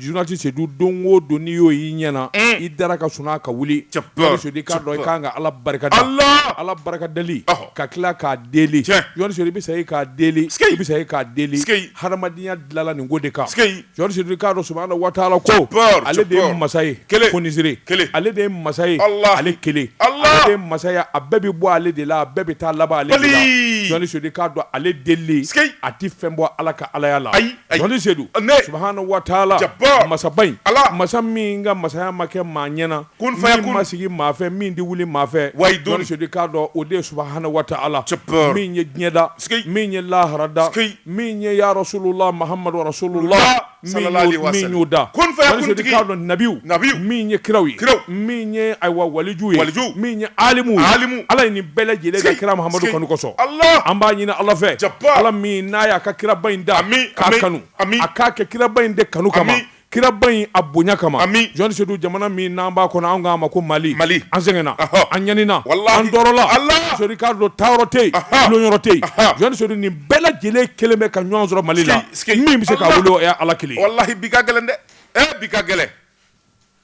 Journaliste Seydou don o don n'i y'o y'i ɲɛ na, un, i dara ka sunɔgɔ ka wuli, cɛp, cɛp, Seydou i k'a dɔn i ka kan ka Ala barika da, Ala, Ala barika dali, ɔhɔ, ka tila k'a deli, tiɲɛ, journaliste Seydou i bɛ sa i k'a deli, sikei, i bɛ sa i k'a deli, sikei, hadamadenya dilanna nin ko de kan, sikei, journaliste Seydou i k'a dɔn subahana wa taala ko, cɛp, cɛp, ale de ye masa ye, kelen, fonisire, kelen, ale de ye masa ye, Ala, ale kelen, Ala, ale de ye masa ye a bɛɛ bɛ bɔ ale de la a bɛɛ bɛ taa laban ale de la, balii, journaliste Seydou i k'a dɔn ale delili, sikei, a tɛ fɛn bɔ Ala ka Alaya la, ayi. Jɔli se don suha waatila masa in ala masa min ka masaya ma kɛ maa ɲɛnaana kofaya ma sigi maafɛ min tɛ wuli maafɛ wa dɔnnise'a dɔn o de suba ha waati ala min ye diɲɛda min ye laharada min ye yasolonla mahamadulasolonla y'o da dɔn nabiwu nabi min ye kiraw ye kira min ye ayiwa waliju ye waliju min ye alimu ye alimu ala ye nin bɛɛ lajɛlen da kira mahamadu kanu kosɔn allah an b'a ɲini ala fɛ jabaru ala min n'a y'a ka kiraba in da ami k'a kanu ami a k'a kɛ kiraba in de kanu kama kiraba in a bonya kama ami journaliste Seydou jamana min n'an b'a kɔnɔ an k'a ma ko mali mali an sɛgɛnna an ɲanina walahi an tɔɔrɔla allah journaliste Seydou k'a dɔn taayɔrɔ tɛ yen donyɔrɔ tɛ yen journaliste Seydou nin bɛɛ lajɛlen kelen bɛ ka ɲɔgɔn sɔrɔ mali la min bɛ se k'a wuli o ye ala kelen walahi bi ka gɛlɛn dɛ eh bi ka gɛlɛn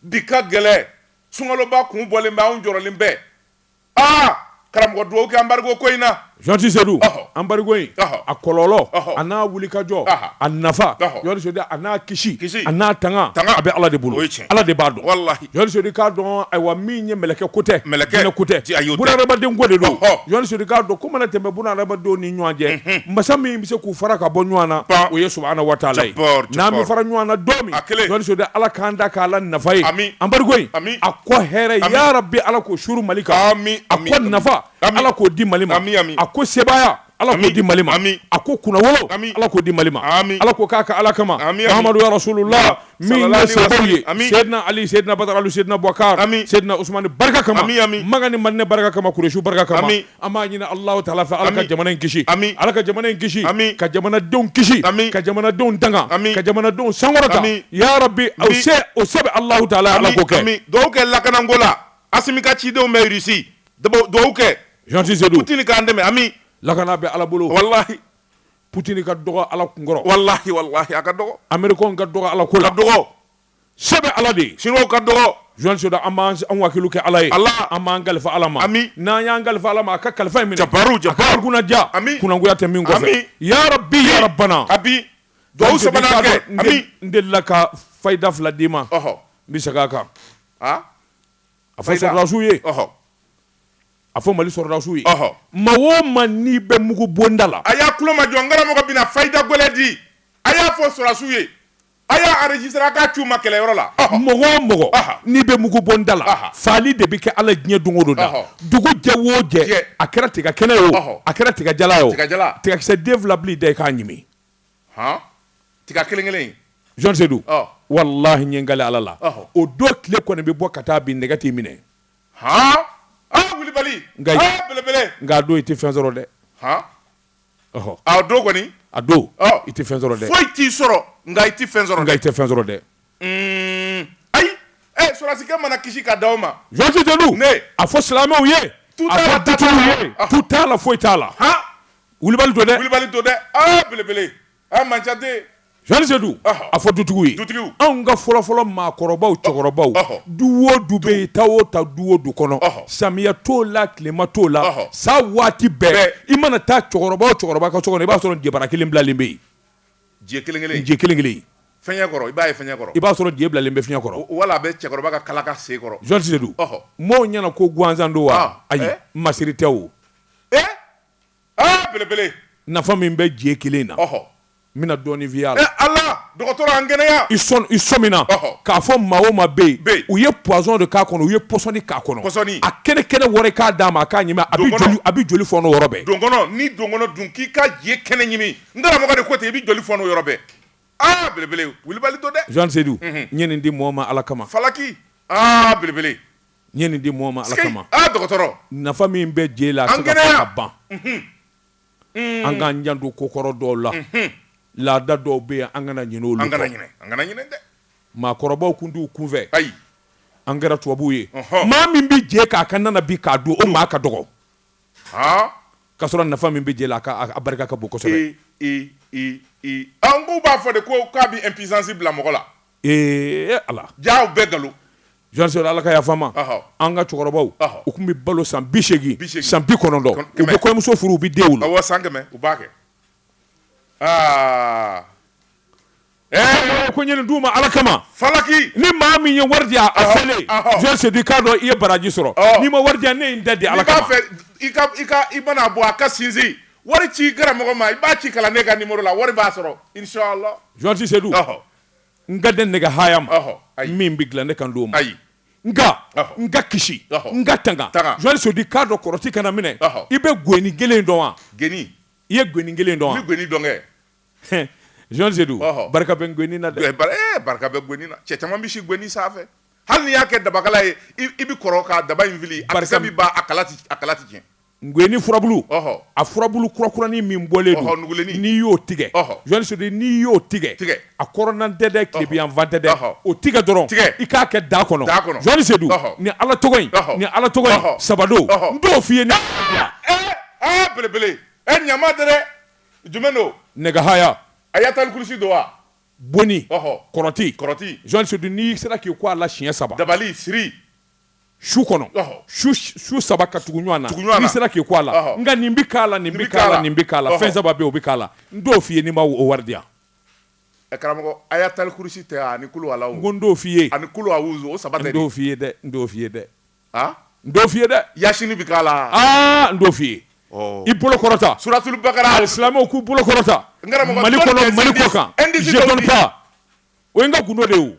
Bi ka gɛlɛn, sunkaloba kun bɔlen bɛ, anw jɔrɔlen bɛ. Aa! Karamɔgɔ duwawu kɛ embargo ko in na. Journaliste Seydou, embargo in, a kɔlɔlɔ, a n'a wulikajɔ, a nafa, journaliste Seydou a n'a kisi, a n'a tanga, a bɛ Ala de bolo. Ala de b'a dɔn. Journaliste Seydou i k'a dɔn, ayiwa, min ye mɛlɛkɛ ko tɛ, jinɛ ko tɛ, bunahadamaden ko de don. Journaliste Seydou i k'a dɔn, ko mana tɛmɛ bunahadamadenw ni ɲɔgɔn cɛ, masa min bɛ se k'u fara ka bɔ ɲɔgɔn na Ban. o ye subahana wa taala ye Jabaru, jabaru. n'an bɛ fara ɲɔgɔn na don min A kelen. Journaliste Seydou Ala k'an da k'a la nafa ye Ami. embargo in Ami. a kɔ hɛrɛ Ami. ya rabi Ala k'o suuru Mali kan Ami, a ami, kɔ ami. nafa Ami. Ala k'o di Mali ma Ami, ami. a ko sebaaya Ala k'o Ami, di Mali ma ami. a ko kunnawolo Ami. Ala k'o di Mali ma Ami. Ala k'o k'a ka Ala kama Ami, ami. Mahamadu ya rasululah min Salala ye ni sababu wasali. ye Ami. sedina ali sedina badaralu sedina bɔkar Ami. sedina usmani barika kama Ami, ami. maka ni madinɛ barika kama kuresiw barika kama Ami. an b'a ɲini allahu taala fɛ ala ka Ami. jamana in kisi Ami. ala ka jamana in kisi Ami. ka jamanadenw kisi Ami. ka jamanadenw tanga Ami. ka jamanadenw sankɔrɔta Ami. ya rabi o Ami. se o se bɛ allahu taala ye ala k'o kɛ ami duwawu kɛ lakanako la asimi ka cidenw bɛ irisi duwawu kɛ journaliste Seydou putini k'an dɛmɛ ami lakana bɛ ala bolo walahi Putin ka dɔgɔ ala kunkɔrɔ walahi walahi a ka dɔgɔ amerikɛn ka dɔgɔ ala ko la dɔgɔ se bɛ ala de ye siniwa ka dɔgɔ journaliste Seydou an b'an wakilu kɛ ala ye ala an b'an kalifa ala ma ami n'an y'an kalifa ala ma a ka kalifa in minɛ jabaru jabaru kunnadiya ami kunnangoya tɛ min kɔfɛ ya rabi ya rabana ami dugawu sabanan kɛ ami n delila ka fayida fila d'i ma ɔhɔ n bɛ segin a kan a fɔ sɔrɔdasiw ye ɔhɔ a fɔ mali sɔrɔdasiw ye maa o maa n'i bɛ mugu bonda la a y'a tulo majɔ n karamɔgɔ bɛna fayida gɛlɛn di a y'a fɔ sɔrɔdasiw ye a y'a enregistrer k'a ci u ma kɛlɛyɔrɔ la mɔgɔ o mɔgɔ n'i bɛ mugu bonda la faali de bɛ kɛ ala diɲɛ don o don da dugu jɛ wo jɛ a kɛra tiga kɛnɛ ye o a kɛra tiga jalan ye o tigakisɛ den fila bila i da i k'a ɲimi tiga kelen kelen Jean Seydou wallahi n ye n kali ala la o don tile kɔni bɛ bɔ ka taa bin nɛgɛ t'i minɛ wulibali belebele nka a don i tɛ fɛn sɔrɔ dɛ a don kɔni a don i tɛ fɛn sɔrɔ dɛ foyi t'i sɔrɔ nka i tɛ fɛn sɔrɔ i tɛ fɛn sɔrɔ dɛ ayi sɔrɔdasikɛ mana kisi ka di aw ma Jean Seydou a fɔ silamɛw ye a fɔ dutigiw ye tu t'a la foyi t'a la wulibali don dɛ wulibali don dɛ belebele Sedu a fɔ dutigiw ye anw ka fɔlɔfɔlɔ maakɔrɔbaw cɛkɔrɔbaw du o du bɛ yen taa o ta du o du kɔnɔ samiya t'o la tilema t'o la sa waati bɛɛ i mana taa cɛkɔrɔba o cɛkɔrɔba ka so i b'a sɔrɔ jebara kelen bilalen bɛ yen je kelen kelen i b'a sɔrɔ je bilalen bɛ fiɲɛ kɔrɔ wala a bɛ cɛkɔrɔba ka kalaka sen kɔrɔ Jean Seydou maaw ɲɛna ko gansan don wa ayi masiri tɛ o aa belebele nafa min bɛ je kelen na ɔhɔ n bɛna dɔɔnin f'i y'a la ala dɔgɔtɔrɔ an kɛnɛya i sɔn i sɔmina k'a fɔ maa o maa bɛ yen u ye poison de k'a kɔnɔ u ye pɔsɔni k'a kɔnɔ pɔsɔni a kɛnɛ kɛnɛ wɔrɔ k'a d'a ma a k'a ɲimi a bɛ joli a bɛ joli fɔnɔ yɔrɔ bɛɛ donkɔnɔ ni donkɔnɔ dun k'i ka je kɛnɛ ɲimi n karamɔgɔ de ko ten i bɛ joli fɔnɔ yɔrɔ bɛɛ aa belebele wulibali don dɛ Jean Seydou n ye nin di mɔɔ ma ala kama falaki aa belebele N ye nin di mɔgɔ ma Ala kama. Sikeyi! Aa dɔgɔtɔrɔ! Nafa min bɛ je la, a tɛ se ka fɔ ka ban. An kɛnɛya! Unhun! An k'an janto ko kɔrɔ dɔw la. Unhun! Laada dɔw bɛ yen, an kana ɲinɛ olu kɔ. An kana ɲinɛ, an kana ɲinɛ dɛ! Maakɔrɔbaw tun t'u kun fɛ. Ayi! An kɛra tubabuw ye. Ɔnhɔn! Maa min bɛ je k'a ka na na bi k'a dun, o maa ka dɔgɔ. Haa! K'a sɔrɔ nafa min bɛ je la, a a barika ka bon kosɛbɛ. Ee! Ee! Ee! Ee! Ɔ, nk'u b'a fɔ de ko k'a bɛ impuissance bila mɔgɔ la. ee ala jaa bɛɛ nkalon Jean Seydou ala ka yafa n ma an ka cɛkɔrɔbaw u tun bɛ balo san bi segin san bi kɔnɔntɔn u bɛ kɔɲɔmuso furu u bɛ den wolo awɔ san kɛmɛ u b'a kɛ aa ɛɛ ko n ye nin d'u ma ala kama falaki ni maa min ye wari di yan a filɛ Jean Seydou i k'a dɔn i ye baraji sɔrɔ n'i ma wari di yan ne ye n ta di ala kama i mana bɔ a ka sinsin wari ci karamɔgɔ ma i b'a ci kalanden ka numéro la wari b'a sɔrɔ inshallah Jean Seydou n kan tɛ nɛgɛ haya ma min bɛ dilan ne kan t'o ma ayi nka n ka kisi n ka tanga Jɔni Sedu k'a dɔn kɔrɔti kana minɛ i bɛ gweni kelen dɔn wa gweni i ye gweni kelen dɔn gweni dɔn kɛ Jɔni Sedu barika bɛ gweni na dɛ barika bɛ gweni na cɛ caman bɛ si gweni sanfɛ hali n'i y'a kɛ dabakala ye i bɛ kɔrɔ ka daba in fili a kisɛ bɛ ban a kala tɛ tiɲɛ Gweni furabulu a furabulu kurakuranin min bɔlen don n'i y'o tigɛ Jɔni Sedu n'i y'o tigɛ a kɔrɔnna tɛ dɛ tilebinyanfan tɛ dɛ o tigɛ dɔrɔn i k'a kɛ da kɔnɔ Jɔni Sedu ni ala tɔgɔ ni ala tɔgɔ saba don n t'o f'i ye belebele ɲama tɛ dɛ jumɛn don nɛgɛ haya Ayatal Kursi don wa bon ni kɔrɔti Jɔni Sedu n'i sera k'i ko a la siɲɛ saba dabali siri su kɔnɔ su saba ka tugu ɲɔgɔn na n'i sera k'i ko a la nka nin bɛ k'a la nin bɛ k'a la nin bɛ k'a la fɛn saba bɛ o bɛ k'a la n dɔw f'i ye ni ma o wari di yan karamɔgɔ a y'a tali kurusi tɛ ani kulu ala n ko n dɔw f'i ye ani kulu a wusu o saba tɛ dɔw f'i ye dɛ n dɔw f'i ye dɛ n dɔw f'i ye dɛ yasini bɛ k'a la aa n dɔw f'i ye i bolo kɔrɔta suratulu bakara silamɛw k'u bolo kɔrɔta mali kɔnɔ mali kɔ kan o ye n ka gundo de ye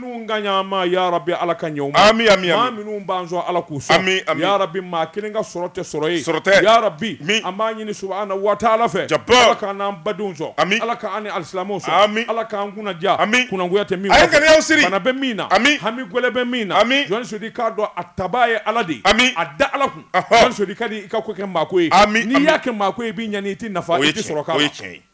minnu k'a ɲ'an ma ya rabi ala k'a ɲɛ u ma Ami, ami, ami. maa minnu b'an sɔn ala k'u sɔn Ami, ami. ya rabi maa kelen ka sɔrɔ tɛ sɔrɔ ye Sɔrɔ tɛ. ya rabi Ami. an b'a ɲini subahana wa taala fɛ Jabbar. ala k'an n'an badenw sɔn Ami. ala k'an ni alisilamɛw sɔn Ami. ala k'an kunna diya Ami. kunnagoya tɛ min A ye kɔfɛ. ŋaniyaw siri. bana bɛ min na Ami. hami gɛlɛn bɛ min na Ami. Jɔni Sedu k'a dɔn a tabaa ye ala de ye Ami. a da ala kun Ɔhɔ. Jɔni Sedu ka di i ka ko kɛ maako ye Ami, n'i ami. y'a kɛ maako ye i b'i ɲani i t'i nafa O ye i t'i tiɲɛ sɔrɔ k'a o ye la tiɲɛ ye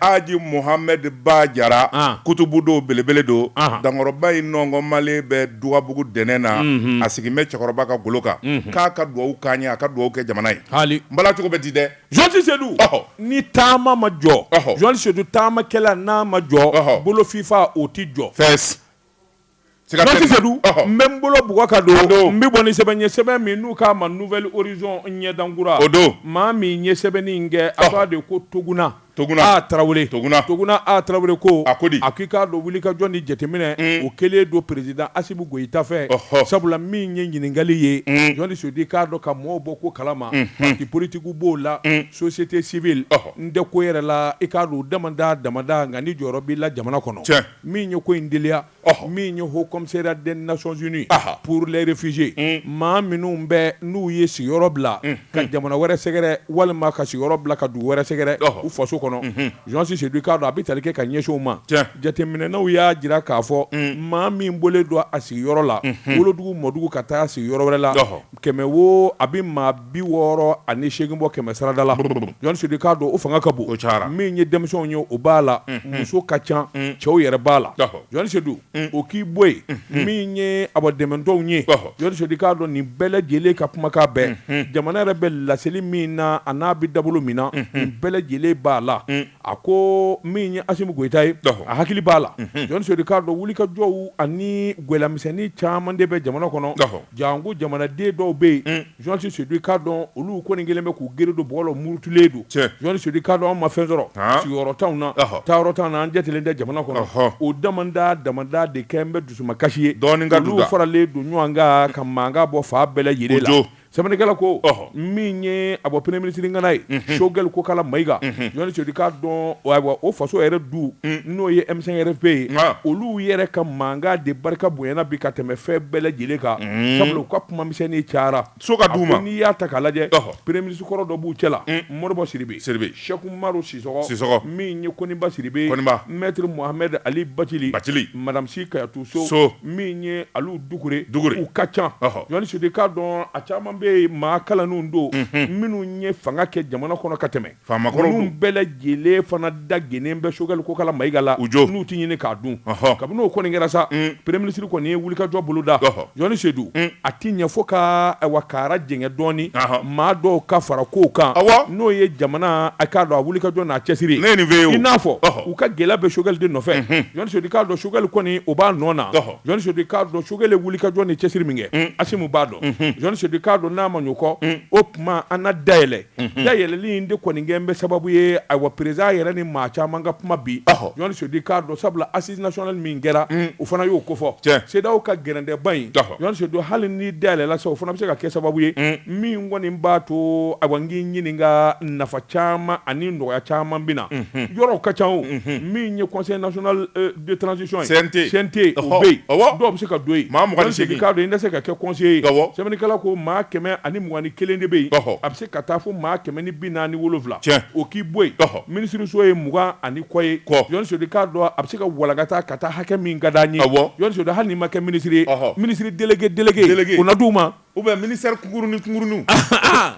Aji Muhamɛdi Ba Jara kutubu don belebele don dankɔrɔba in nɔnkɔnmalen bɛ Dugabugu dɛnɛn na a sigilen bɛ cɛkɔrɔba ka golo kan k'a ka dugawu k'an ye a ka dugawu kɛ jamana ye hali n b'a la cogo bɛ di dɛ Jɔni Sedu ni taama ma jɔ Jɔni Sedu taamakɛla n'a ma jɔ bolofifa o tɛ jɔ Jɔni Sedu n bɛ n bolo bugɔ ka don n bɛ bɔ ni sɛbɛn ye sɛbɛn min n'u k'a ma Nouvel Horizon ɲɛdankura o don maa min ye sɛbɛnni in kɛ a k'a de ko Toguna A Tarawele Toguna A Tarawele ko a ko di a k'i k'a dɔn wulikajɔ ni jateminɛ o kɛlen don président Asimi Goyita fɛ sabula min ye ɲininkakali ye Jɔni Sedu k'a dɔn ka mɔgɔw bɔ ko kalama parti politique b'o la société civile n tɛ ko yɛrɛ la i k'a dɔn damada damada nka ni jɔyɔrɔ b'i la jamana kɔnɔ min ye ko in deliya min ye Haut Commissariat des Nations Unies pour les réfugiés maa minnu bɛ n'u ye sigiyɔrɔ bila ka jamana wɛrɛ sɛgɛrɛ walima ka sigiyɔrɔ bila ka dugu wɛrɛ sɛgɛrɛ u faso kɔnɔ Jɔni Sedu k'a dɔn a bɛ tali kɛ ka ɲɛsin o ma jateminɛnaw y'a jira k'a fɔ maa min bɔlen don a sigiyɔrɔ la wolodugu mɔdugu ka taa sigiyɔrɔ wɛrɛ la kɛmɛ wo a bɛ maa bi wɔɔrɔ ani segin bɔ kɛmɛ sarada la Jɔn Sedu i k'a dɔn o fanga ka bon min ye denmisɛnw ye o b'a la muso ka ca cɛw yɛrɛ b'a la Jɔn Sedu o k'i bɔ yen min ye a dɛmɛdenw ye Jɔn Sedu i k'a dɔn nin bɛɛ lajɛlen ka kumakan bɛɛ jamana yɛrɛ bɛ laseli min na an'a bɛ dabolo min na nin bɛɛ lajɛlen b'a la a ko min ye Asimu Goyita ye a hakili b'a la Jɔn Sedu i k'a dɔn wulikajɔw ani gɛlɛya misɛnnin caman de bɛ jamana kɔnɔ Janko jamanaden dɔw bɛ yen Jɔn Sedu i k'a dɔn olu kɔni kɛlen bɛ k'u gere don bɔgɔ la u murutulen don Jɔn Sedu i k'a dɔn an ma fɛn sɔrɔ sigiyɔrɔ t'an na taayɔrɔ t'an na an jatelen tɛ jamana kɔnɔ o daman daman de kɛlen bɛ dusumakasi ye olu faralen don ɲɔgɔn kan ka mankan bɔ fan bɛɛ lajɛlen na sɛbɛnnikɛla ko min ye a bɔ premier ministre ŋana ye Choguel Kokala Mayiga Jɔn Sedu i k'a dɔn ayiwa o faso yɛrɛ du n'o ye M5 RFP ye olu yɛrɛ ka mankan de barika bonyana bi ka tɛmɛ fɛn bɛɛ lajɛlen kan sabula u ka kuma misɛnni cayara so ka d'u ma n'i y'a ta k'a lajɛ premier ministre kɔrɔ dɔ b'u cɛla Modibo Sidibe. Sɛki Umaru Sisɔkɔ min ye Koniba Sidibe mɛtiri Mohamɛdi Ali Bacili madamu Si Kajatu So min ye Alu Dukure u ka ca Jɔn Sedu i k'a dɔn a caman bɛ maa kalannenw don minnu ye fanga kɛ jamana kɔnɔ ka tɛmɛ ninnu bɛɛ lajɛlen fana da gɛnnen bɛ Choguel Kokala Mayiga la n'u tɛ ɲini k'a dun kabini o kɔni kɛra sa premier ministre kɔni ye wulikajɔ boloda Jɔn Sedu a tɛ ɲɛ fo ka awa kara jɛngɛ dɔɔnin maa dɔw ka fara ko kan n'o ye jamana a k'a dɔn a wulikajɔ n'a cɛsiri i n'a fɔ u ka gɛlɛya bɛ Choguel de nɔfɛ Jɔn Sedu i k'a dɔn Choguel kɔni o b'a nɔ na Jɔn Sedu i k'a dɔn Choguel ye wulikajɔ ni cɛsiri min kɛ Asimu b'a dɔn Jɔn Sedu i k'a dɔn n'a ma ɲin'o kɔ o tuma a na da yɛlɛ dayɛlɛli in de kɔni kɛlen bɛ sababu ye ayiwa peresidan yɛrɛ ni maa caman ka kuma bi Jɔn Sedu i k'a dɔn sabula nationale min kɛra o fana y'o kofɔ CEDEAO ka gɛrɛntɛba in don hali ni da yɛlɛla sa o fana bɛ se ka kɛ sababu ye min kɔni b'a to awa n k'i ɲininka nafa caman ani nɔgɔya caman bɛ na yɔrɔw ka ca min ye conseil national de transition CNT dɔw bɛ se ka don yen Jɔn Sedu i k'a dɔn i tɛ se ka kɛ conseiller ye sɛbɛnnikɛla ko maa kɛmɛ ani mugan ni kelen de bɛ yen ka taa fo maa kɛmɛ ni bi naani wolonwula o k'i bɔ yen minisiriso ye mugan ani kɔ ye Jɔn Sedu i k'a dɔn a bɛ se ka walankata ka taa hakɛ min ka d'a ye Jɔn Sedu hali n'i ma kɛ minisiri ye minisiri délégué délégué o na d'u ma ou bien ministère kunkurunin kunkurunin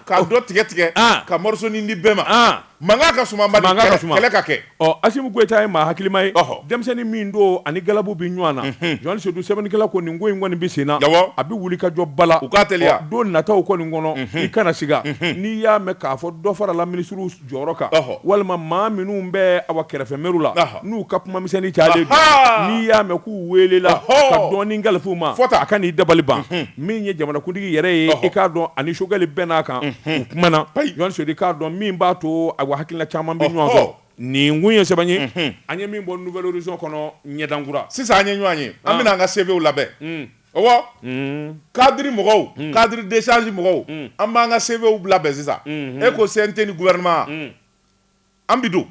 ka dɔ tigɛ tigɛ ka mɔrɔsonin di bɛɛ ma Mankan ka suma Mali, mankan ka suma, kɛlɛ ka kɛ, ɔ Asimu Goyita ye maa hakilima ye, ɔhɔ, denmisɛnnin min don ani galabu bɛ ɲɔgɔn na, unhun, Jɔn Sedu sɛbɛnnikɛla ko nin ko in kɔni bɛ sen na, awɔ, a bɛ wulikajɔ ba la, u k'a teliya, ɔ don nataw kɔni kɔnɔ, unhun, i kana siga, unhun, n'i y'a mɛn k'a fɔ dɔ farala minisiriw jɔyɔrɔ kan, ɔhɔ, walima maa minnu bɛ awa kɛrɛfɛ mɛriw la, ɔhɔ. n'u ka kumamisɛnni cayalen don, Ahaa! n'i y'a mɛn k'u weelela Ɔhɔɔ! ka dɔɔni kalifa u ma, Fɔ tan. a kan'i dabali ban, min ye jamanakuntigi yɛrɛ ye, Ɔhɔ. i k'a dɔn a ni Choguel bɛnna a kan, u kumana, Ayi! Ɲɔni Sodi k'a dɔn min b'a to a hakilina caman bɛ ɲɔgɔn sɔrɔ, Ɔhɔ. nin kun ye sɛbɛn ye, an ye min bɔ Nouvel Horizon kɔnɔ ɲɛdan kura. Sisan an ye ɲɔgɔn ye, an bɛna an ka CVw labɛn, ɔwɔ, cadre mɔgɔw, cadre d'échange mɔgɔw, an b'an ka CVw labɛn sisan, e ko CNT ni gouvernement wa? an bɛ don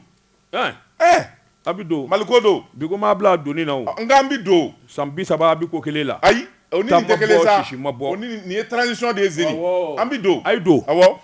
a bɛ don mali ko don bi ko maa bila donni na o nka an bɛ don san bi saba a bɛ ko kelen la ayi o ni nin tɛ kelen ma bɔ nin ye transition de zeni an bɛ don a ye don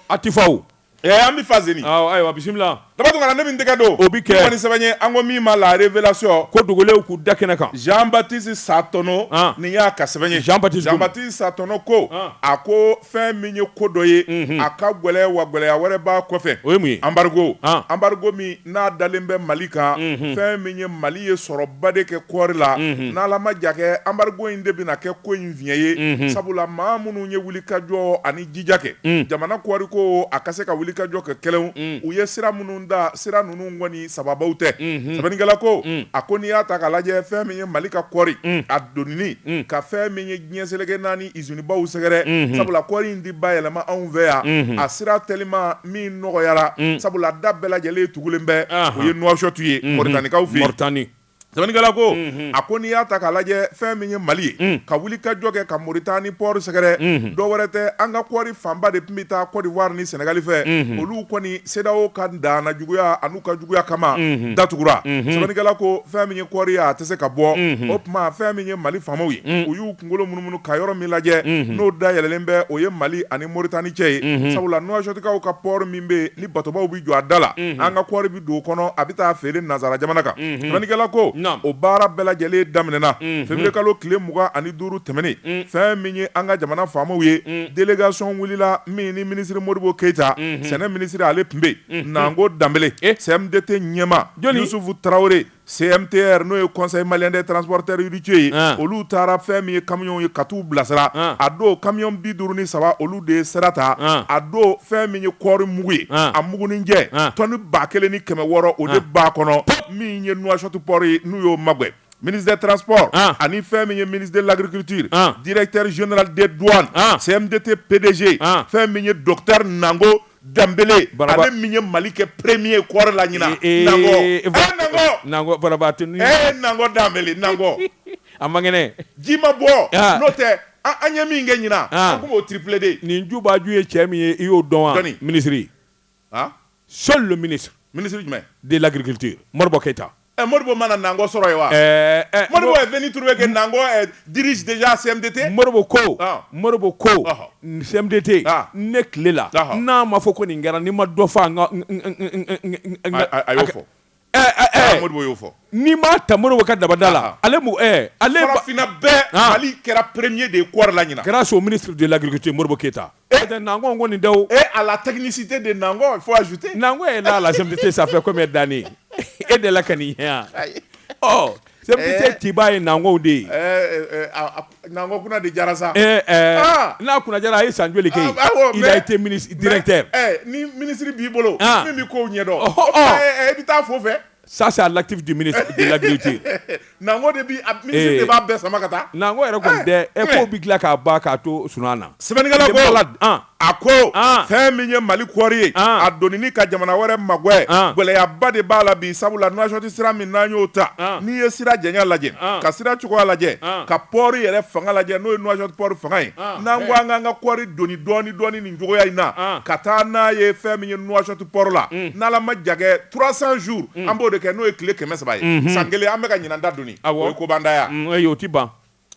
a tɛ fa o an bɛ fa zeni ayiwa bisimila dabatugana ne min tɛgɛ don o bɛ kɛ nin sɛbɛn ye an ko min ma la révélation ko dogolenw k'u da kɛnɛ kan Jean Baptiste Satono nin y'a ka sɛbɛn ye Jean Baptiste Satono ko a ko fɛn min ye ko dɔ ye a ka gɛlɛya wa gɛlɛya wɛrɛ b'a kɔfɛ o ye mun ye anbarigo anbarigo min n'a dalen bɛ mali kan fɛn min ye mali ye sɔrɔba de kɛ kɔɔri la n'ala ma ja kɛ anbarigo in de bɛna kɛ ko in fiɲɛ ye sabula maa minnu ye wulikajɔ ani jija kɛ jamana kɔɔri ko a ka se ka wulikajɔ kɛ kɛlɛ u ye sira minnu da sira ninnu kɔni sababu tɛ sɛbɛnnikɛla ko a ko n'i y'a ta k'a lajɛ fɛn min ye mali ka kɔɔri a doni ka fɛn min ye diɲɛ seleke naani usine baw sɛgɛrɛ sabula kɔɔri in di bayɛlɛma anw fɛ yan a sira teliman min nɔgɔyara sabula da bɛɛ lajɛlen tugulen bɛ o ye Nouakchott ye Moritanikaw fɛ yen sɛbɛnnikɛla ko a ko n'i y'a ta k'a lajɛ fɛn min ye Mali ye ka wulikajɔ kɛ ka Moritani pɔri sɛgɛrɛ dɔ wɛrɛ tɛ an ka kɔɔri fanba de tun bɛ taa Côte d'Ivoire ni Senegali fɛ olu kɔni CEDEAO ka danna juguya ka juguya kama datugura sɛbɛnnikɛla ko fɛn min ye kɔɔri ye a tɛ se ka bɔ o tuma fɛn min ye mali faamaw ye u y'u kunkolo munumunu ka yɔrɔ min lajɛ n'o dayɛlɛlen bɛ o ye mali ani moritani cɛ ye sabula Nouakchottkaw ka pɔri min bɛ ni batobaw bɛ jɔ a da la an ka kɔɔri bɛ don o kɔnɔ a bɛ taa feere nansara jamana kan sɛbɛnnikɛla ko o baara bɛɛ lajɛlen daminɛna février kalo tile mugan ani duuru tɛmɛnen fɛn min ye an ka jamana faamaw ye délégation wulila min ni minisiri modibo keyita sɛnɛ minisiriri ale tun bɛ yen Naan ko danb sɛmdi tɛ ɲɛmasufu tarawele sɛmete n'o ye kɔsɔn ye mali de tranzprtaric ye olu taara fɛn min ye kamiw ye ka taa u bilasira a don kami bi duuru ni saba olu de ye sira ta a don fɛn min ye kɔɔri mugu ye a mugunjɛ tɔnni ba kelen ni kɛmɛ wɔɔrɔ o de ba kɔnɔ min ye wasotupri n'u y'o mabɔ minise tranzsp ani fɛn min ye mini lagkiritiri dre terirezyon de dɔn sɛmete pdz fɛn min ye dɔnkilitari naago Danbele ale min ye mali kɛ perereme ye kɔrɛ la ɲinkɔ danbekɔ a mang ji ma bɔ n'o tɛ an ɲɛ min kɛ ɲin k'o tiplɛden nin jubaju ye cɛ min ye i y'o dɔn minisiriri solu mini minisiri jumɛn de lakite moribakɛ keyita Ɛ Modibo ma na Nango sɔrɔ yen wa? Ɛɛ ɛ Modibo est venu trouver que Nango ɛ dirige déjà CMDT? Modibo ko, ɔɔ, Modibo ko, ɔhɔ, CMDT, aa, ne tile la, ɔhɔ, n'a ma fɔ ko nin kɛra, n'i ma dɔ fɔ a n ka n n n n a a y'o fɔ, ɛ ɛ ɛ, aa Modibo y'o fɔ, n'i m'a ta Modibo ka dabada la, aa, ale mɔgɔ ɛ ale, farafinna bɛɛ, aa, Mali kɛra premier de ye kɔɔri la ɲinan, grâce au ministre de l'agriculture Modibo Keyita Eh. Peut-être Nango kɔni tɛ o. Et à la technicité de Nango, il faut ajouter. Nango est là à la CMDT, ça fait combien d'années E de la ka nin ye yan. Ɔ CMDT tigiba ye Nango de ye. Ɛɛ Nango kunna de jara sa. Ɛɛ ɛɛ n'a kunna jara a ye san joli kɛ yen? Awɔ mais Il a été ministre directeur. Ɛɛ ni ministre b'i bolo min bɛ kow ɲɛdɔn. Ɔhɔ ɔɔ. E bɛ taa fo fɛ. ça c'est à l'actif du ministre de l'agriculture nango de bi ministre de b'a bɛɛ sama ka taa nango yɛrɛ kɔni tɛ ɛ ko bɛ dilan k'a ban k'a to sunan na sɛbɛnnikɛla ko a ko fɛn min ye mali kɔɔri ye a donini ka jamana wɛrɛ magwɛ gɛlɛyaba de b'a la bi sabula nouakchott sira min n'an y'o ta n'i ye sira janya lajɛ ka sira cogoya lajɛ ka port yɛrɛ fanga lajɛ n'o ye nouakchott port fanga ye n'an ko an k'an ka kɔɔri doni dɔɔni dɔɔni nin cogoya in na ka taa n'a ye fɛn min ye nouakchott port la n'Ala ma jan kɛ 300 jours an b'o de kɛ n'o ye tile 300 ye san kelen an bɛ ka ɲinan ta doni o ye ko banta ye wa? Ayi o tɛ ban.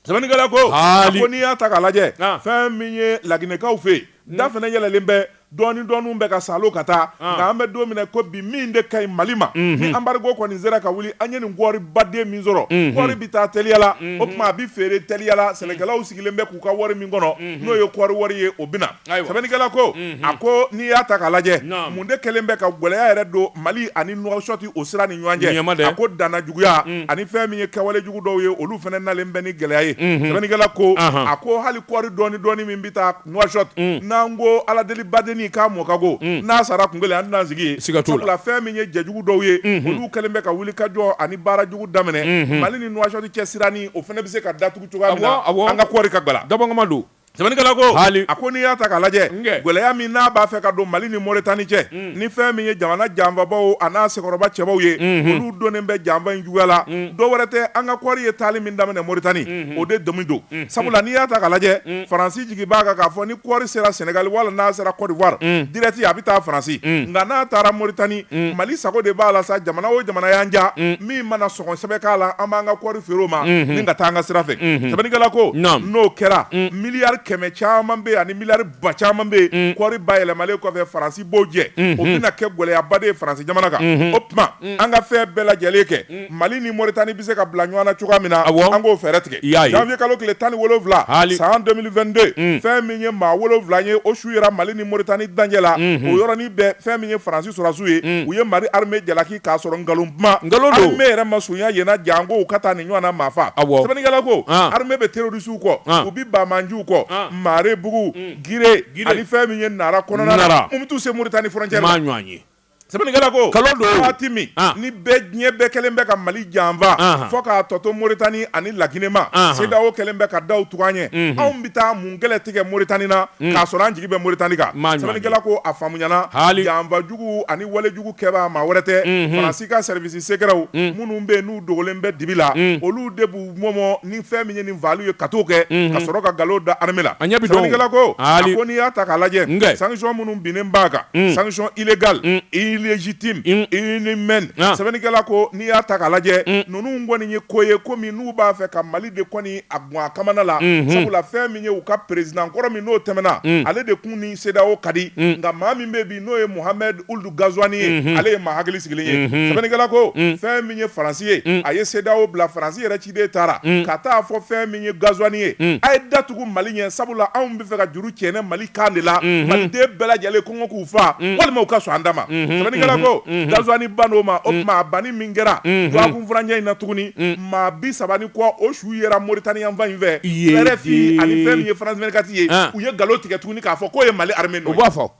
Sɛbɛnnikɛla ko a ko n'i y'a ta k'a lajɛ fɛn min ye laginɛkaw fɛ yen da fana yɛlɛlen bɛ dɔɔni dɔɔni bɛ ka saalo ka taa nka an bɛ don min na i ko bi min de ka ɲi Mali ma ni embargo kɔni sera ka wuli an ye nin kɔɔri baden min sɔrɔ kɔɔri bɛ taa teliya la o tuma a bɛ feere teliya la sɛnɛkɛlaw sigilen bɛ k'u ka wari min kɔnɔ n'o ye kɔɔri wari ye o bɛ na. sɛbɛnnikɛla ko a ko n'i y'a ta ka lajɛ mun de kɛlen bɛ ka gɛlɛya yɛrɛ don mali ani nouakchott o sira ni ɲɔgɔn cɛ a ko danna juguya ani fɛn min ye kɛwale jugu dɔw ye olu fana nalen bɛ ni gɛlɛya ye sɛbɛnnikɛla ko a ko hali kɔɔri dɔɔni dɔɔni min bɛ taa nouakchott n'an ko ala deli baden k'a mɔ ka go n'a sara kun kelen an tɛna sigi ye sabula fɛn min ye jɛ jugu dɔw ye olu kɛlen bɛ ka wuli ka jɔ ani baara jugu daminɛ mali ni nouakchott cɛ sira ni o fana bɛ se ka datugu cogoya min an ka kɔɔri ka dabama don Sɛbɛnnikɛla ko, haali, a ko n'i y'a ta k'a lajɛ, nkɛ, gɛlɛya min n'a b'a fɛ ka don Mali ni Mauritanie cɛ, un, ni fɛn min ye jamana janfabaaw an'a sɛkɔrɔba cɛbaw ye, unhun, olu donnen bɛ janfa in juguya la, un, dɔ wɛrɛ tɛ an ka kɔɔri ye taali min daminɛ Mauritanie, unhun, o de dimi don, unhun, sabula n'i y'a ta k'a lajɛ, un, Faransi jigi b'a kan k'a fɔ ni kɔɔri sera Sénégal wala n'a sera Côte d'Ivoire, un, direct a bɛ taa Faransi, un, nka n'a taara Mauritanie, un, Mali sago de b'a la sa, jamana o jamana y'an diya, un, min mana sɔngɔ sɛbɛ k'a la an b'an ka kɔɔri feere o ma ni ka taa an ka sira fɛ sɛbɛnnikɛla ko n'o kɛra miliyari kɛmɛ caman bɛ ani miliyari ba caman bɛ yen kɔɔri bayɛlɛmalen kɔfɛ faransi b'o jɛ o bɛna kɛ gɛlɛyaba de ye faransi jamana kan o tuma an ka fɛn bɛɛ lajɛlen kɛ mali ni mauritanie bɛ se ka bila ɲɔgɔn na cogoya min na an k'o fɛɛrɛ tigɛ janvier kalo tile tan ni wolowula hali san 2022 fɛn min ye maa wolowula ye o su yera mali ni mauritanie dancɛ la o yɔrɔnin bɛɛ fɛn min ye faransi sɔrɔdasiw ye u ye mali armée jalaki k'a sɔrɔ nkalon kuma, nkalon don, armée yɛrɛ ma surunya yen na janko u ka taa nin ɲɔgɔn na maa faa, awɔ, sɛbɛnnikɛla ko, an, armée bɛ terroristes kɔ, an, u bɛ baamanjiw kɔ, an, Maarebugu, un, Gire, Gire, ani fɛn min ye Nara kɔnɔna na, Nara, mun bɛ t'u se Mauritanie frontière la, n m'a ɲɔgɔn ye. Sɛbɛnnikɛla ko, nkalon don, waati min, an, ni bɛɛ diɲɛ bɛɛ kɛlen bɛ ka Mali janfa, anhan, fɔ k'a tɔ to Mauritanie ani La Guinée ma, anhan, CEDEAO kɛlen bɛ ka daw tugu an ɲɛ, unhun, anw bɛ taa mun kɛlɛ tigɛ Mauritanie na, un, k'a sɔrɔ an jigi bɛ Mauritanie kan, n m'a ɲɔgɔn ye, sɛbɛnnikɛla ko a faamuyana, haali, janfa jugu ani wale jugu kɛbaa maa wɛrɛ tɛ unhun Faransi ka service secretw minnu bɛ yen n'u dogolen bɛ dibi la olu de b'u mɔmɔ ni fɛn min ye nin faliw ye ka t'o kɛ ka sɔrɔ ka nkalon da armée la a ɲɛ bi dɔn o sɛbɛnnikɛla ko aali a ko n'i y'a ta k'a lajɛ nge sanction minnu binnen b'a kan sanction illégale illégitime inhumaine sɛbɛnnikɛla ko n'i y'a ta k'a lajɛ ninnu kɔni ye ko ye komi n'u b'a fɛ ka Mali de kɔni a gɔn a kamana la sabula fɛn min ye u ka président kɔrɔ min n'o tɛmɛna ale de tun ni CEDEAO ka di nka maa min bɛ bi n'o ye Mohamed Ould Ghazouani ye, unhun, ale ye maa hakili sigilen ye, unhun, sɛbɛnnikɛla ko, un, fɛn min ye Faransi ye, un, a ye CEDEAO bila, Faransi yɛrɛ ciden taara, un, ka taa fɔ fɛn min ye Ghazouani ye, un, a ye da tugu Mali ɲɛ sabula anw b'a fɛ ka juru cɛnɛ Mali kan de la, unhun, Maliden bɛɛ lajɛlen kɔngɔ k'u faa, un, walima u ka sɔn an ta ma, unhun, sɛbɛnnikɛla ko, unhun, Ghazouani banna o ma, o tuma a banni min kɛra dɔgɔkun furancɛ in na tuguni, un, maa bi saba ni kɔ o su yera Mauritanie yanfan in fɛ, RFI ani fɛn min ye France 24 ye, an, u ye nkalon tigɛ tuguni k'a fɔ k'o ye Mali armée nɔ ye.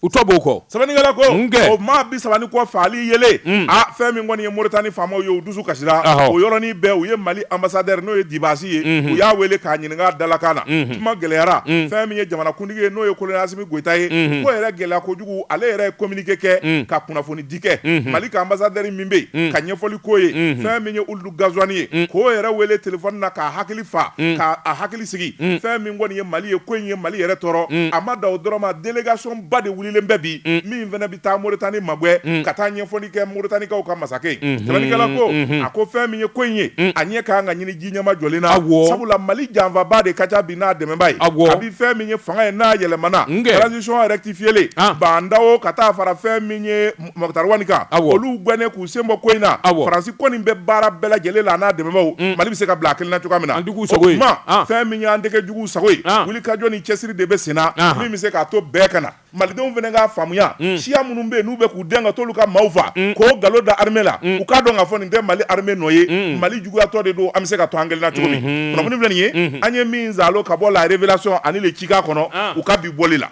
u tɔ b'o kɔ sɛbɛnnikɛla ko Nkɛ. o maa bi saba ni kɔ faali yelen mm. a fɛn min kɔni ye Moritani faamaw ye u dusu kasira Ahɔ. o yɔrɔnin bɛɛ u ye Mali ambassadeur n'o ye Dibasi ye mm-hmm. u y'a wele k'a ɲininka dalakan na mm-hmm. kuma gɛlɛyara mm. fɛn min ye jamanakuntigi ye n'o ye kolonɛli Asimi Goyita ye mm-hmm. ko yɛrɛ gɛlɛya kojugu ale yɛrɛ ye communiqué kɛ mm. ka kunnafoni di kɛ Mali ka ambassadeur min bɛ yen ka ɲɛfɔli k'o ye fɛn min ye Ghazouani ye mm. k'o yɛrɛ wele telefɔni na k'a hakili fa mm. k'a hakili sigi mm. fɛn min kɔni ye mali ye ko in ye mali yɛrɛ tɔɔrɔ a ma da o dɔrɔn ma délégation ba de wulilen bɛ bi min fana bɛ taa moritani magwɛ ka taa ɲɛfɔli kɛ moritanikaw ka masakɛ sɛbɛnnikɛla mm-hmm. ko mm-hmm. a ko fɛn min ye ko in ye a ɲɛ ka kan ka ɲini ji ɲɛmajɔlen na sabula mali janfabaa de ka ca bi n'a dɛmɛbaa ye kabi fɛn min ye fanga ye n'a yɛlɛmana transition rectifiée la ah. Bah N'Daw ka taa fara fɛn min ye Moctar Ouane kan olu gɛnnen k'u sen bɔ ko in na Faransi kɔni bɛ baara bɛɛ lajɛlen la n'a dɛmɛbaw Mali bɛ se ka bila a kelen na cogoya min na o tuma fɛn min y'an tɛgɛ jugu sago ye wulikajɔ ni cɛsiri de bɛ sen na min bɛ se k'a to bɛɛ ka na malidenw fana k'a faamuya siya minnu bɛ yen n'u bɛ k'u dɛn ka t'olu ka maaw faa k'o nkalon da armée la u k'a dɔn k'a fɔ nin tɛ Mali armée nɔ ye mali juguyatɔ de don an bɛ se ka to an kelen na cogo min kunnafoni filɛ nin ye an ye min zalo ka bɔ La Révélation ani Le Tjikan kɔnɔ u ka bi bɔli la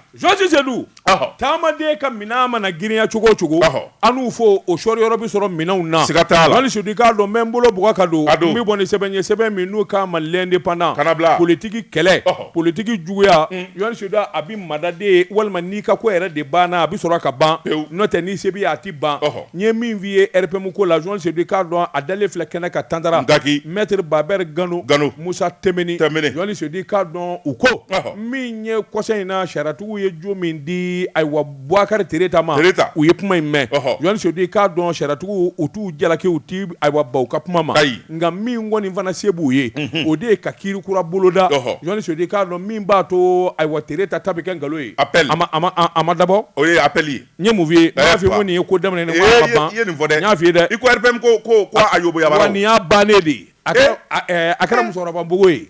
taamaden ka minɛn mana girinya cogo o cogo an n'u fɔ o sɔɔri yɔrɔ bɛ sɔrɔ minɛnw na siga t'a la jɔni sedu i k'a dɔn n bɛ n bolo bɔgɔ ka don n bɛ bɔ ni sɛbɛn ye sɛbɛn min n'u k'a ma l'indépendant politigi kɛlɛ politigi juguya jɔni sedu a bɛ mada de walima n'i ka ko yɛrɛ de banna a bɛ sɔrɔ ka ban n'o tɛ ni se b'i ye a tɛ ban n ye min f'i ye RPM ko la jɔni sedu i k'a dɔn a dalen filɛ kɛnɛ kan tanta daki mɛtiri babɛri gano gano musa timbine jɔni sedu i k'a dɔn u ko n ye kɔsa in na sariyatigiw ye jo min di ayiwa buwakari tereta ma u ye kuma in mɛn jɔni sedu i k'a dɔn sariyatigiw u t'u jalaki u ti ayiwa ban u ka kuma ma ayi nka min kɔni fana se b'u ye o de ye ka kiri kura boloda jɔni sedu i k'a dɔn min b'a to ayiwa tereta ta bɛ kɛ nkalon ye appel a ma dabɔ o ye appel ye n ye mun f'i ye n y'a f'i ye ko nin ye ko daminɛ nin ko a ma ban i ye nin fɔ dɛ n y'a f'i ye dɛ i ko RPM ko ko a yobo yabara o wa nin y'a bannen de ye a kɛra musokɔrɔba npogo ye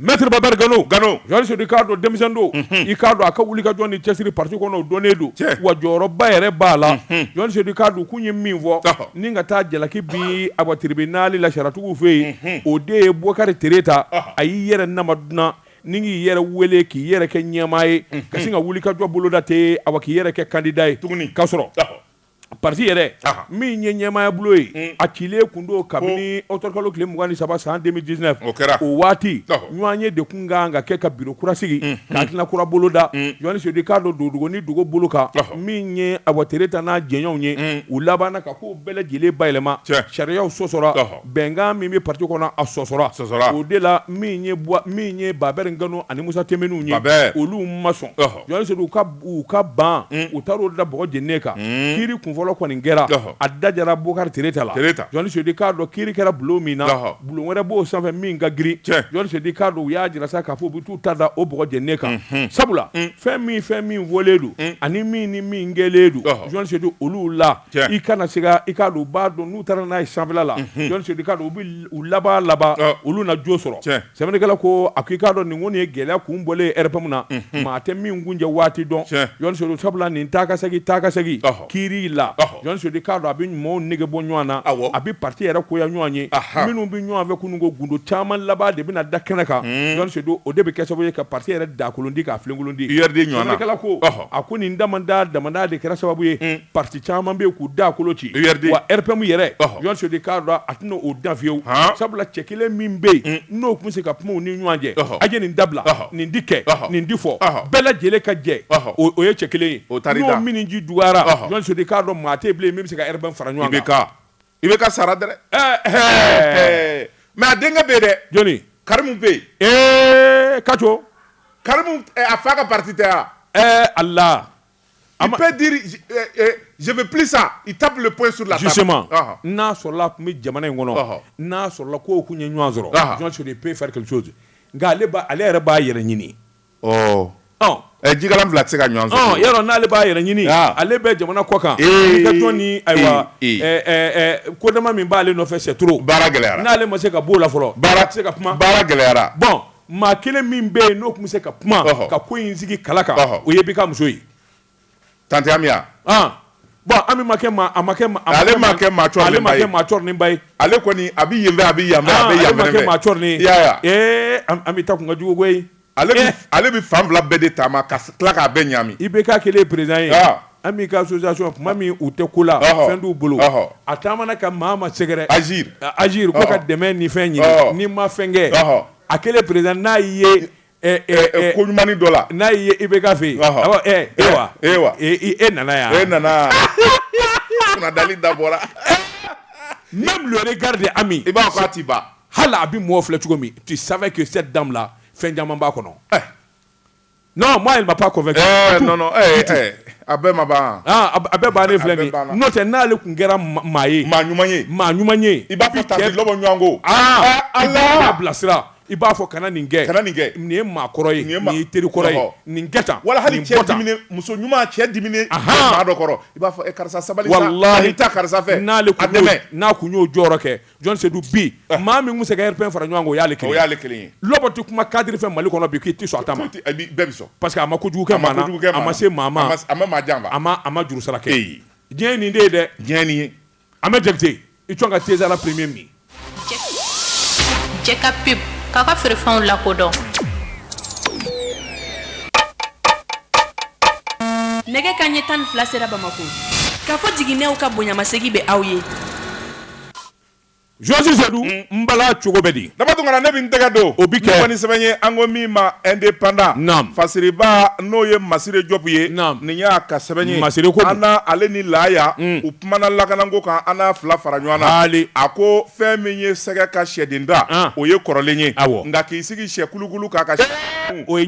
Mɛtiri babɛri gano gano jɔni sedu i k'a dɔn denmisɛn don i k'a dɔn a ka wulikajɔ ni cɛsiri pati kɔnɔ o dɔnnen don wa jɔyɔrɔba yɛrɛ b'a la jɔni sedu i k'a dɔn k'u ye min fɔ ni ka taa jalaki bi ayiwa tribunal la sariyatigiw fɛ yen o de ye bukari tereta a y'i yɛrɛ nama dunan ni k'i yɛrɛ wele k'i yɛrɛ kɛ ɲɛmaa ye ka sin ka wulikajɔ boloda ten ayiwa k'i yɛrɛ kɛ kandida ye tuguni ka sɔrɔ pati yɛrɛ min ye ɲɛmaaya bulon ye a cilen tun don kabini ɔkutɔburukalo tile mugan ni saba san deux mille dix-neuf o waati ɲɔgɔnye de tun kan ka kɛ ka biro kura sigi ka hakilina kura boloda jɔni sedu i k'a dɔn dogo ni dogo bolo kan min ye ayiwa tereta n'a jɛɲɔgɔnw ye u labanna ka ko bɛɛ lajɛlen bayɛlɛma sariyaw sɔsɔra bɛnkan min bɛ pati kɔnɔ a sɔsɔra o de la min ye babɛri gano ani musa timbinew ye olu ma sɔn u ka u ka ban u taara o da bɔgɔ jeninen kan kiri kun fɔlɔ kɔni kɛra a da jara bukari tereta la jɔni sedu i k'a dɔn kiri kɛra bulon min na bulon wɛrɛ b'o sanfɛ min ka girin jɔni sedu i k'a dɔn u y'a jira sa k'a fɔ u bɛ taa u ta da o bɔgɔ jeninen kan sabula fɛn min fɛn min fɔlen don ani min ni min kɛlen don jɔni sedu olu la i kana siga i k'a dɔn u b'a dɔn n'u taara n'a ye sanfɛla la u bɛ laban olu na jo sɔrɔ sɛbɛnnikɛla ko a ko i k'a dɔn nin ko nin ye gɛlɛya kunbɔlen RPM na maa tɛ min kuncɛ waati dɔn sabula nin taa ka segin taa ka segin kiri la jɔni sedu i k'a dɔn a bɛ ɲumanw nege bɔ ɲɔgɔn na a bɛ pati yɛrɛ goya ɲɔgɔn ye minnu bɛ ɲɔgɔn fɛ kunun ko gundo caman laban de bɛna da kɛnɛ kan jɔni sedu o de bɛ kɛ sababu ye ka pati yɛrɛ dakoloci k'a filenkoloci sɛbɛnnikɛla ko a ko nin damadama de kɛra sababu ye pati caman bɛ k'u dakoloci wa RPM yɛrɛ jɔni sedu i k'a dɔn a tɛna o dan fiyewu sabula cɛ kelen min bɛ yen n'o tun bɛ se ka kuma u ni ɲɔgɔn cɛ a ye nin dabila nin di kɛ nin di fɔ bɛɛ lajɛlen ka jɛ o ye cɛ kelen ye n'o minji dɔgɔyara jɔni sedu i k'a dɔn maa tɛ bilen min bɛ se ka RPM fara ɲɔgɔn kan IBK sara dɛ mɛ a denkɛ bɛ yen dɛ jɔni karimu bɛ yen kaco karimu a fa ka pati tɛ wa ala Il peut dire je veux plus ça il tape le poing sur la table justement n'a sɔrɔla tun bɛ jamana in kɔnɔ n'a sɔrɔla ko tun ye ɲɔgɔn sɔrɔ peut faire quelque chose nka ale yɛrɛ b'a yɛrɛ ɲini jikalan fila tɛ se ka yɔrɔ n'ale b'a yɛrɛ ɲini ale bɛ jamana kɔ kan ni ayiwa kodama min b'ale nɔfɛ c'est trop baara gɛlɛyara n'ale ma se ka b'o la fɔlɔ maa tɛ se ka kuma baara gɛlɛyara Maa kelen min bɛ yen n'o tun bɛ se ka kuma ka ko in sigi kala kan o ye IBK muso ye tanti Ami ma kɛ maa ale ma kɛ maa cɔrininba ye ale kɔni a bɛ yen a bɛ yan Ami ta kun ka jugu ale bɛ fan fila bɛɛ de taama ka tila k'a bɛɛ ɲami IBK kɛlen président ye Ami ka association tuma min u tɛ ko la fɛn t'u bolo a taamana ka maa ma sɛgɛrɛ Agir ko ka dɛmɛ ni fɛn ɲini ni ma fɛnkɛ a kɛlen président n'a ye ko ɲuman dɔ la n'a ye IBK fɛ yen e wa e e nana yan e nana dalen da bɔra même le regard de Ami i b'a fɔ a tɛ ban hali a bɛ mɔgɔ filɛ cogo min tu savais que cette dame là fɛn caman b'a kɔnɔ Non moi elle m'a pas convaincu du tout, non non du tout. a bɛɛ ma ban a bɛɛ bannen filɛ nin ye n'o tɛ n'ale tun kɛra maa ye maa ɲuman ye maa ɲuman ye i b'a fɔ tanti lɔbɔ ɲɔgɔn ko i b'a bilasira i b'a fɔ kana nin kɛ kana nin kɛ nin ye maakɔrɔ ye nin ye teri kɔrɔ ye nin kɛ tan wala hali cɛ diminen muso ɲuman cɛ diminen maa dɔ kɔrɔ i b'a fɔ karisa sabali sa walahi nin tɛ karisa fɛ n'ale tun y'o jɔyɔrɔ kɛ jɔn sedu bi ah. maa min bɛ se ka RPM fara ɲɔgɔn kan o y'ale kelen o y'ale kelen ye lɔbɔ tɛ kuma cadre fɛ mali kɔnɔ bi k'i ti sɔn a ta ma bɛɛ bɛ sɔn parce que a ma kojugu kɛ maa na a ma se maa ma a ma maa janfa a ma a ma juru sara kɛ diɲɛ ye nin de ye dɛ diɲɛ ye nin ye Ahmed Jakite i tɔn ka teza la premier min jɛ ka pub k'a ka feerefɛnw lakodɔn nɛgɛ kanɲɛ tan ni fila sera bamakɔ Kafo Jiginɛw ka bonyamasegin bɛ aw ye Jɔsi Sedu n bala cogo bɛ di Daba Tunkara ne bɛ n tɛgɛ don o bɛ kɛ ni sɛbɛn ye an ko min ma Indépendant fasiriba n'o ye Masire Jɔpu ye nin y'a ka sɛbɛn ye Masire ko an ale ni Laya u kumana lakanako kan an n'a fila fara ɲɔgɔn na a ko fɛn min ye sɛgɛ ka sɛden ta o ye kɔrɔlen ye nka k'i sigi sɛkulukulu kan o o ye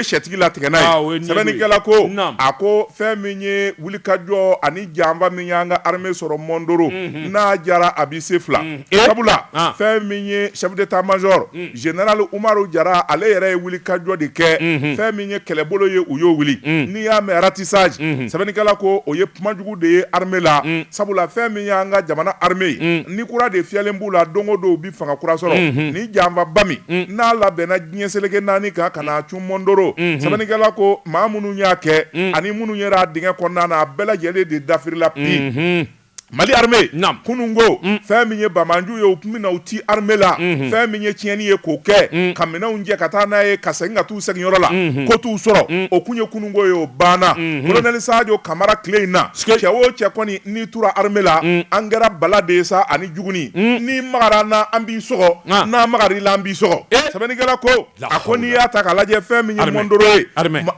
sɛtigi latigɛ n'a ye sɛbɛnnikɛla ko a ko fɛn min ye wulikajɔ ani janfa min y'an ka armée sɔrɔ Mondoro mhm. n'a jara a bɛ se fila mhm. eh. sabula ah. fɛn min ye chef d'état-major mhm. général Umaru Jara ale yɛrɛ ye wulikajɔ de kɛ fɛn min ye kɛlɛbolo ye u y'o wuli n'i y'a mɛn ratissage sɛbɛnnikɛla ko o ye kumajugu de ye armée la sabula fɛn min y'an ka jamana armée ye ni kura de fiyɛlen b'u la don o don u bɛ fanga kura sɔrɔ ni janfaba min n'a labɛnna diɲɛ seleke naani kan ka na c mɔndoro sɛbɛnnikɛla ko maa minnu y'a kɛ ani minnu yera dingɛ kɔnɔna na a bɛɛ lajɛlen de dafirila bi mali armée kunun ko fɛn min ye bamanju ye u tun bɛ na u ti armée la fɛn min ye tiɲɛni ye k'o kɛ ka minɛnw jɛ ka taa n'a ye ka segin ka taa u seginyɔrɔ la ko t'u sɔrɔ o tun ye kununko ye o banna colonel sadio kamara tile in na cɛ o cɛ kɔni n'i tura armée la an kɛra bala de sa ani juguni n'i magara an na an b'i sɔgɔ n'an magar'i la an b'i sɔgɔ sɛbɛnnikɛla ko a ko n'i y'a ta ka lajɛ fɛn min ye mɔndoro ye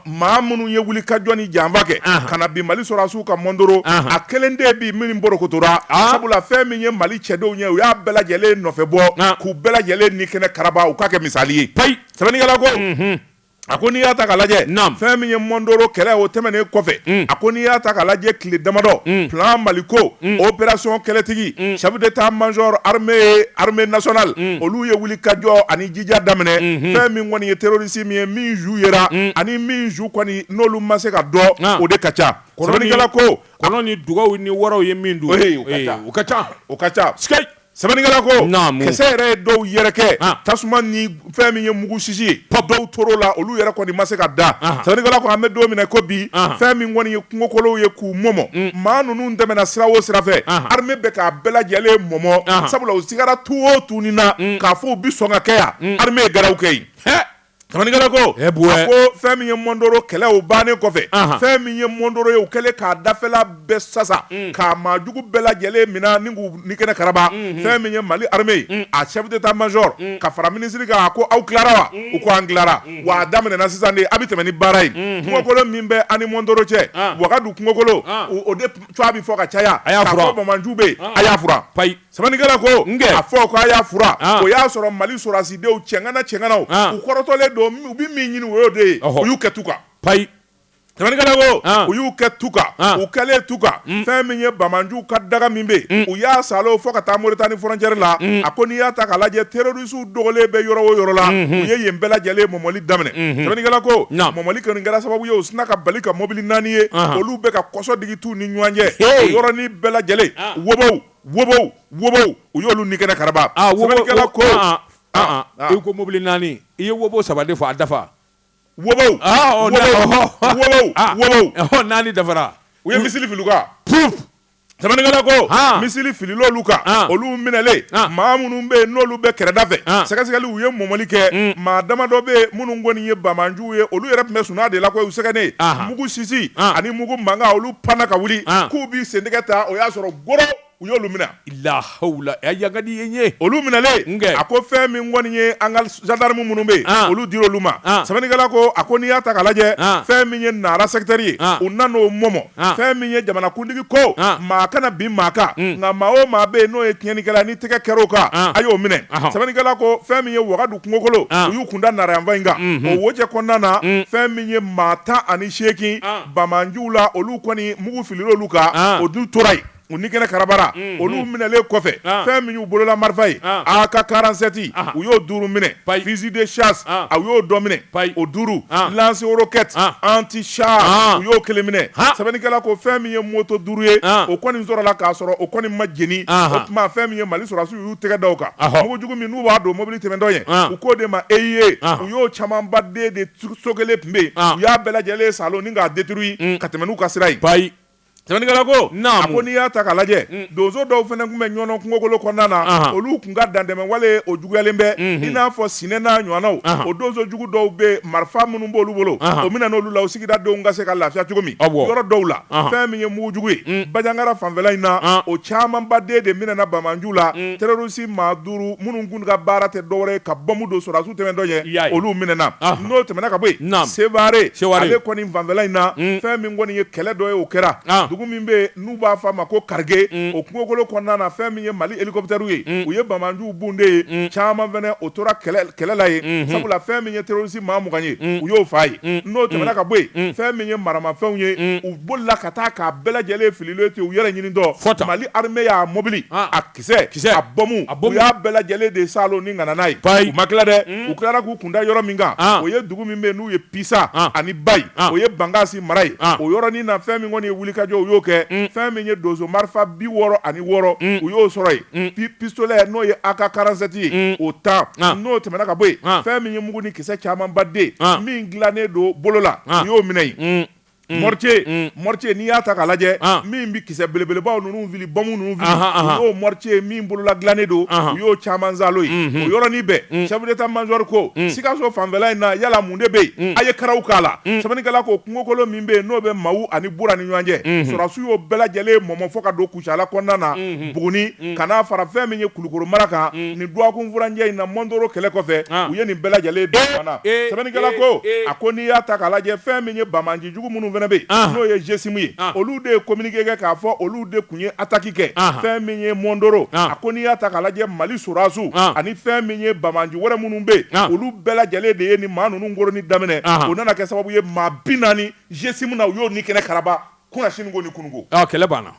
maa minnu ye wuli ka jɔ ni janfa kɛ ka na bin mali sɔrɔdasiw kan mɔndoro a kelen de bi min bolokotora sabula fɛn min ye mali cɛdenw ye u y'a bɛɛ lajɛlen nɔfɛ bɔ k'u bɛɛ lajɛlen ni kɛnɛ karaba u k'a kɛ misali ye payi sɛbɛnnikɛla ko a ko n'i y'a ta ka lajɛ fɛn min ye mɔndoro kɛlɛ o tɛmɛnen kɔfɛ a ko n'i y'a ta ka lajɛ tile damadɔ plan maliko opération kɛlɛtigi chef d'état major armée nationale olu ye wuli ka jɔ ani ja daminɛ fɛn min kɔni ye terorisi min ye min su yera ani min su kɔni n'olu ma se ka dɔn o de ka ca sɛbɛnnikɛla ko kɔnɔ ni dugaw ni waraw ye min dun o ka ca sɛbɛnnikɛla ko kisɛ yɛrɛ ye dɔw yɛrɛkɛ tasuma ni fɛn min ye mugu sisi ye dɔw tor'o la olu yɛrɛ kɔni ma se ka dan sɛbɛnnikɛla ko an bɛ don min i ko bi fɛn min kɔni kungokolow ye k'u mɔmɔ mm. maa ninnu tɛmɛna sira o sira fɛ armée bɛ k'a bɛɛ lajɛlen mɔmɔ sabula u sigara tu o tu ni na mm. k'a fɔ u bi sɔn ka kɛ yan mm. armée ye gɛrɛw kɛ yen sɛbɛnnikɛla ko a ko fɛn min ye mɔndoro kɛlɛ o bannen kɔfɛ fɛn min ye mɔndoro ye u kɛlen k'a dafɛla bɛɛ sasa k'a maajugu bɛɛ lajɛlen mina ni k'u ni kɛnɛ karaba fɛn min ye mali armée a chef d'état major ka fara minisiri kan a ko aw tilara wa u ko an tilara wa a daminɛna sisan de a bɛ tɛmɛ ni baara ye kungokolo min bɛ ani mɔndoro cɛ wagadu kungokolo o de cogoya bɛ fɔ ka caya k'a fɔ bamanju bɛ yen a y'a fura payi sɛbɛnnikɛla ko a fɔ ko a y'a fura o y'a sɔrɔ mali sɔrɔdasidenw cɛŋana cɛŋanaw u kɔrɔtɔlen don u bɛ min ɲini o y'o de ye u y'u kɛ tu kan payi u y'u kɛ tu kan u kɛlen tu kan fɛn min ye bamanju ka daga min bɛ yen u y'a salo fo ka taa moritani frontière la a ko n'i y'a ta ka lajɛ terorisiw dogolen bɛ yɔrɔ o yɔrɔ la u ye yen bɛɛ lajɛlen mɔmɔli daminɛ sɛbɛnnikɛla ko mɔmɔli kɔni kɛra sababu ye u sina ka bali ka mobili naani ye olu bɛ ka kɔsɔ digi tu ni ɲɔgɔn cɛ o yɔrɔnin bɛɛ lajɛlen wobow u y'olu ni kɛnɛ karaba sɛbɛnnikɛla ko i ko mɔbili naani i ye wobow saba de fɔ a dafa Wobow! Aa! Ɔ! Wobow! Ɔhɔ! Wobow! Aa! Wobow! Ɔhɔ! Naani dafara. U ye misili fili u kan. Puup! Sɛbɛnnikɛla ko. Haan! Misili filila olu kan. Haan! Olu minɛlen. Haan! Maa minnu bɛ yen n'olu bɛ kɛrɛda fɛ. Haan! Sɛgɛsɛgɛli u ye mɔmɔli kɛ. Un! Maa damadɔ bɛ yen minnu kɔni ye bamaanjuw ye, olu yɛrɛ tun bɛ sunan de la koyi, u sɛgɛnnen. Ahan! Mugu sisi. Haan! Ani mugu mankan olu panna ka wuli. Haan! K'u b'i sentɛgɛ ta, o y'a sɔrɔ goro! u y'olu minɛ lahawula a yagadi ye ye olu minɛlen a ko fɛn min kɔni ye an ka zandarmu minnu bɛ yen olu dir'olu ma sɛbɛnnikɛla ko a ko n'i y'a ta k'a lajɛ fɛn min ye nara sɛkitɛri ye u nan'o mɔmɔ fɛn min ye jamanakuntigi ko maa kana bin maa kan nka maa o maa bɛ yen n'o ye tiɲɛnikɛla ni tɛgɛ kɛr'o kan a y'o minɛ sɛbɛnnikɛla ko fɛn min ye wagadu kungokolo u y'u kunda nara yanfan in kan o wojɛ kɔnɔna na fɛn min ye maa tan ani seegin banbaanjuw la olu kɔni mugu filil'olu kan o dun tora yen u ni kɛnɛ karabara olu minɛlen kɔfɛ fɛn min y'u bolola marifa ye AK-47 u y'o duuru minɛ fusil de chasse u y'o dɔ minɛ o duuru lance-roquette anti-char u y'o kelen minɛ sɛbɛnnikɛla ko fɛn min ye moto duuru ye o kɔni sɔrɔla k'a sɔrɔ o kɔni ma jeni o tuma fɛn min ye mali sɔrɔdasiw y'u tɛgɛ da o kan mugu jugu min n'u b'a don mobili tɛmɛtɔ ɲɛ u k'o de ma EEI u y'o camanbaden de so kelen tun bɛ yen u y'a bɛɛ lajɛlen saalo ni k'a détruire ka tɛmɛ n'u ka sira Sɛbɛnnikɛla ko, naamu, a ko n'i y'a ta k'a lajɛ, un, donso dɔw fana tun bɛ Ɲɔnɔ kungokolo kɔnɔna na, anhan, olu tun ka dantɛmɛwale o juguyalen bɛ, unhun, i n'a fɔ Sinɛ n'a ɲɔgɔnnaw, anhan, o donso jugu dɔw bɛ yen marifa minnu b'olu bolo, anhan, o minɛna olu la o sigida denw ka se ka lafiya cogo min, awɔ, yɔrɔ dɔw la, anhan, fɛn min ye mugujugu ye, un, Banjagara fanfɛla in na, an, o camanbaden de minɛna banbaanjuw la, un, terɔrisi maa duuru minnu minnu ka baara tɛ dɔwɛrɛ ye ka bɔmu don sɔrɔdasiw tɛmɛntɔ ɲɛ olu minɛna n'o tɛmɛna ka bɔ yen Sevare ale kɔni fanfɛla in na fɛn min kɔni ye kɛlɛ dɔ ye o kɛra dugu min bɛ yen n'u b'a fɔ a ma ko Karige o kungokolo kɔnɔna na fɛn min ye Mali hélicoptères ye u ye banbaanjuw bun de yen caman fana o tora kɛlɛ la yen sabula fɛn min ye terroriste maa mugan ye u y'o faa yen n'o tɛmɛna ka bɔ yen fɛn min ye maramafɛnw ye u bolila ka taa k'a bɛɛ lajɛlen fililen to yen u yɛrɛ ɲinitɔ Mali armée y'a mobili kisɛ a bɔmu u y'a bɛɛ lajɛlen de saalo ni ka na n'a ye u ma tila dɛ u tilara k'u kunda yɔrɔ min kan o ye dugu min bɛ n'u ye pisa ani bayi o ye bankasi mara ye o yɔrɔnin na fɛn min kɔni ye wulikajɔ u y'o kɛ fɛn min ye donso marifa bi wɔɔrɔ ani wɔɔrɔ u y'o sɔrɔ yen pistolɛ n'o ye AK-47 ye o tan n'o tɛmɛna ka bɔ yen fɛn min ye mugu ni kisɛ camanbaden min dilannen don bolo la u y'o minɛ yen mortier n'i y'a ta k'a lajɛ min bɛ kisɛ belebelebaw ninnu fili bɔmu ninnu fili o y'o mortier min bolola dilannen don u y'o caman saalo yen o yɔrɔnin bɛɛ chef d'état-major ko sikaso fanfɛla in na yala mun de bɛ yen a ye karaw k'a la sɛbɛnnikɛla ko kungokolo min bɛ yen n'o bɛ mawu ani bura ni ɲɔgɔn cɛ sɔrɔdasiw y'o bɛɛ lajɛlen mɔmɔ fo ka don Kucala kɔnɔna na Buguni ka n'a fara fɛn min ye Kulukoro mara kan nin dɔgɔkun furancɛ in na Mondoro kɛlɛ kɔfɛ u ye nin bɛɛ lajɛlen da ɲɔgɔn na sɛbɛnnikɛla ko a ko n'i y'a ta k'a lajɛ fɛn min ye banbaanji jugu minnu fana bɛ yen n'o ye GSIM ye olu de ye communiqué kɛ k'a fɔ olu de tun ye attaque kɛ fɛn min ye Mondoro a ko n'i y'a ta k'a lajɛ Mali sɔrɔdasiw ani fɛn min ye banbaanji wɛrɛ minnu bɛ yen olu bɛɛ lajɛlen de ye nin maa ninnu koronni daminɛ o nana kɛ sababu ye maa 40 GSIM na u y'o ni kɛnɛ karaba Kunna siniko ni kunuko kɛlɛ banna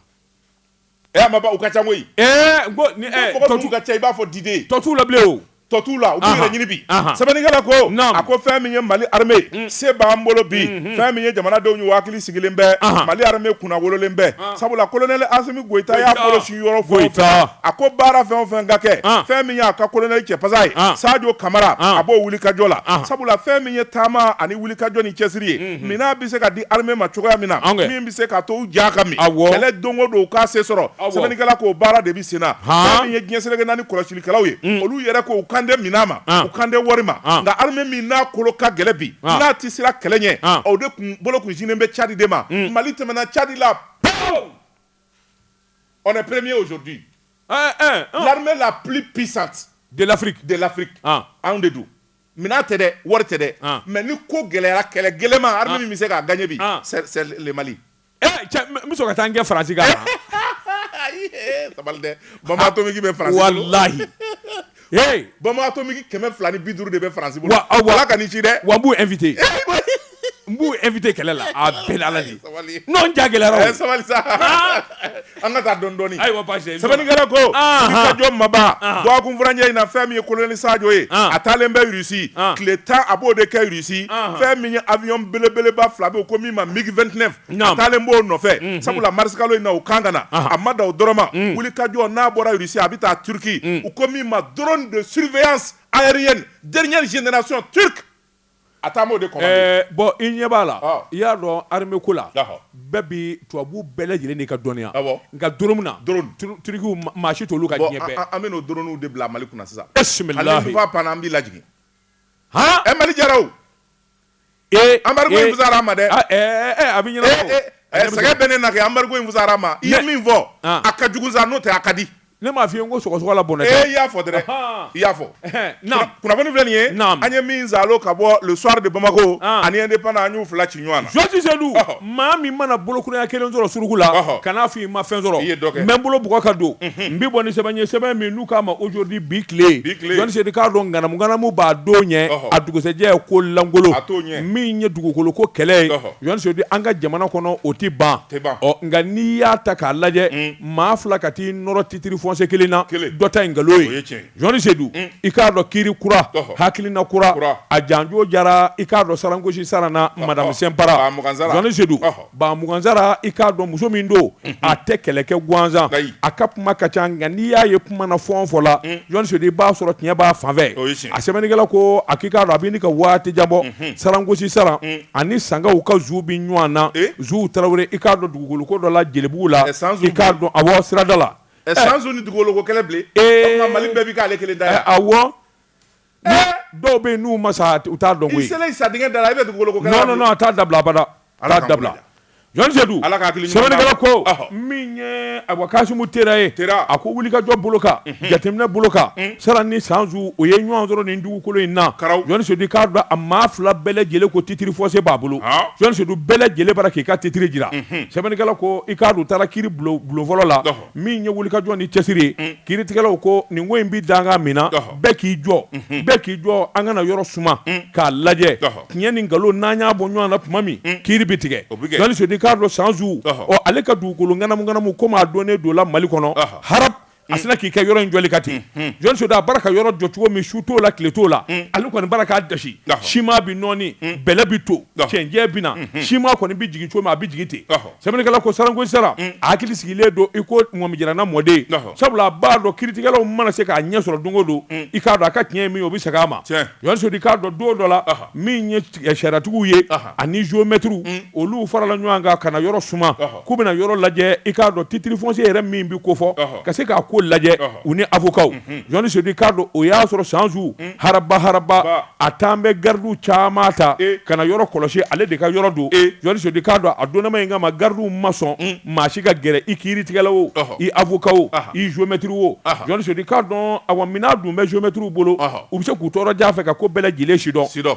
maba u ka ca koyi k'u tun ka ca i b'a fɔ diden tɔ t'u la o tɔ t'u la u b'u yɛrɛ ɲini bi sɛbɛnnikɛla ko a ko fɛn min ye mali armée se b'an bolo bi fɛn min ye jamanadenw ye hakili sigilen bɛ mali armée kunnawololen bɛ sabula kolonɛli asimi goyita y'a bolo sin yɔrɔ fɔ a ko baara fɛn o fɛn ka kɛ fɛn min y'a ka kolonɛli cɛ pasa ye sajo kamara a b'o wulikajɔ la sabula fɛn min ye taama ani wulikajɔ ni cɛsiri ye minɛn bɛ se ka di armée ma cogoya min na min bɛ se k'a to u ja ka min kɛlɛ don o don u ka se sɔrɔ sɛbɛnnikɛla k'o baara de bɛ sen na min ye diɲɛ seleke naani kɔlɔsilikɛlaw ye olu yɛrɛ ko u kan tɛ minɛn ma u kan tɛ wari ma nka armée min n'a kolo ka gɛlɛ bi n'a tɛ siran kɛlɛ ɲɛ o de tun bolo tun sinnen bɛ cadi de ma mali tɛmɛna cadi la on est premier aujourd'hui l'armée la plus puissante de la de l'Afrique anw de don Minɛn tɛ dɛ wari tɛ dɛ mɛ ni ko gɛlɛyara kɛlɛ gɛlɛnma min bɛ se k'a gan bi ka taa kɛ farasi dɛ bamatomiki bɛ lahi bamatɔ kɛmɛ fila ni bi duuru de bɛ farasi aw ka nin ci dɛ wa b' e fit n b'u invité kɛlɛ la a bɛɛ n'Ala de sabali non n ja gɛlɛyara o a ye sabali sa an ka taa dɔɔni dɔɔni ayiwa baasi tɛ sɛbɛnnikɛla ko wulikajɔ maba dɔgɔkun furancɛ in na fɛn min ye kolonɛli sajo ye a taalen bɛ Russie tile tan a b'o de kɛ Russie fɛn min ye avion belebeleba fila bɛ yen ko min ma MiG 29 a taalen b'o nɔfɛ sabula marisikalo in na u kan ka na a ma dan o dɔrɔn ma wulikajɔ n'a bɔra Russie a bɛ taa Turquie u ko min ma drone de surveillance aérienne dernière génération turque a taa o de commandé bon i ɲɛ b'a la i y'a dɔn armée ko la bɛɛ bi tubabu bɛɛ lajɛlen de ka dɔnniya nka drone na turkiw maa si t'olu kan diɲɛ fɛ an bɛ n'o dronew de bila mali kunna sisan bisimilahi ale panna an b'i lajigin he mali jaraw ee embargo in fusara ma dɛ a bɛ ɲɛnabɔ sɛgɛn bɛ ne na kɛ embargo in fusara ma i ye min fɔ a ka jugu sa n'o tɛ a ka di Ne m'a fɔ i ye n ko sɔgɔsɔgɔ la bɔnɛ tɛ, ee i y'a fɔ dɛrɛ, ɔnhɔn, i y'a fɔ, ɛhɛn, naamu, kunnafoni filɛ nin ye, naamu, an ye min zalo ka bɔ le soir de Bamako, ani Indépendant an y'u fila ci ɲɔgɔn na, George Seidu, ɔhɔ, maa min mana bolokuraya kelen sɔrɔ suruku la, ɔhɔ, kan'a fɔ i ma fɛn sɔrɔ, i ye dɔ kɛ, n bɛ n bolo bugɔ ka don, unhun, n bɛ bɔ ni sɛbɛn ye, sɛbɛn min n'u k'a ma aujourd'hui bi tile, bi tile, Joti Seidu k'a dɔn ŋanamu ŋanamu b'a don ɲɛ, ɔhɔ, a dugusɛjɛ ye ko lankolon, a t'o ɲɛ, min ye dugukolo ko kɛlɛ ye, ɔhɔ, Joti Seidu an ka jamana kɔnɔ o tɛ ban, tɛ ban, ɔ nka n'i y'a ta k'a lajɛ, un. maa fila ka t'i nɔrɔ titiri foncier kelen na dɔ ta ye nkalon ye joti sedu mm. i k'a dɔn kiiri kura hakilina kura a janjo jara i k'a dɔn sarangosi saran na madame senpara joti sedu ba mugansara i k'a dɔn muso min don mm-hmm. a tɛ kɛlɛ kɛ gansan a ka kuma ka ca nka n'i y'a ye kuma na fɔn fɔ la mm. joti sedu i b'a sɔrɔ tiɲɛ b'a fanfɛ a sɛbɛnnikɛla ko a k'i k'a dɔn a bɛ ɲini ka waati jan bɔ mm-hmm. sarangosi saran mm. ani sankaw ka zu bɛ ɲɔgɔn na zu tarawele i k'a dɔn dugukolo ko dɔ la jelibugu la i k'a dɔn awɔ sirada la ni dugukolo ko kɛlɛ mali bɛɛ bɛ k'ale kelen da a dɔw bɛ yen n'u ma sa u t'a dɔn sa da a bɛ dugukolo a t'a dabila abada a t'a dabila Jɔn Seyidu sɛbɛnnikɛla ko min ye awa kasimu tera ye a ko wulikajɔ bolo kan jateminɛ bolo kan sara ni sanzu o ye ɲɔgɔn sɔrɔ nin dugukolo in na jɔn seyidu i k'a dɔn a maa fila bɛɛ lajɛlen ko titre foncier b'a bolo jɔn seyidu bɛɛ lajɛlen bara k'i ka titre jira sɛbɛnnikɛla ko i k'a dɔn u taara kiiri bulon fɔlɔ la min ye wulikajɔ ni cɛsiri ye kiiritigɛlaw ko nin ko in bɛ danga min na bɛɛ k'i jɔ bɛɛ k'i jɔ an kana yɔrɔ suma k'a lajɛ tiɲɛ ni nkalon n'an y'a bɔ ɲɔgɔn na tuma min kiiri bɛ tigɛ jɔn seyidu k'a dɔn sanzu ale ka dugukolo ŋanamuŋanamu ko maa dɔnnen don la mali kɔnɔ haraba a sinna k'i kɛ yɔrɔ in jɔli kan ten jɔn seyidu a bara ka yɔrɔ jɔ cogo min su t'o la tile t'o la ale kɔni bara k'a dasi siman bɛ nɔɔni bɛlɛ bɛ to cɛncɛn bɛ na siman kɔni bɛ jigin cogo min a bɛ jigin ten sɛbɛnnikɛla ko sarankosi sara a hakili sigilen don i ko ŋɔmijiranna mɔden sabula a b'a dɔn kiiritigɛlaw mana se k'a ɲɛ sɔrɔ don o don i k'a dɔn a ka tiɲɛ ye min ye o bɛ segin a ma jɔn seyidu i k'a dɔn don dɔ la min ye sariyatigiw ye ani géomètrew olu farala ɲɔgɔn kan ka na yɔrɔ suma k'u bɛna yɔrɔ lajɛ i k'a dɔn titre foncier yɛrɛ min bɛ ko fɔ ka se k'a ko lajɛ u ni avocatw jɔn seyidu i k'a dɔn o y'a sɔrɔ sanzu haraba haraba a tun bɛ garidiw caman ta ka na yɔrɔ kɔlɔsi ale de ka yɔrɔ don jɔn seyidu i k'a dɔn a donnama in kama garidiw ma sɔn maa si ka gɛrɛ i kiiritigɛla o i avocat o i géomètre o jɔn seyidu i k'a dɔn awa minɛn dun bɛ géomètrew bolo u bɛ se k'u to yɔrɔ jan fɛ ka ko bɛɛ lajɛlen sidɔn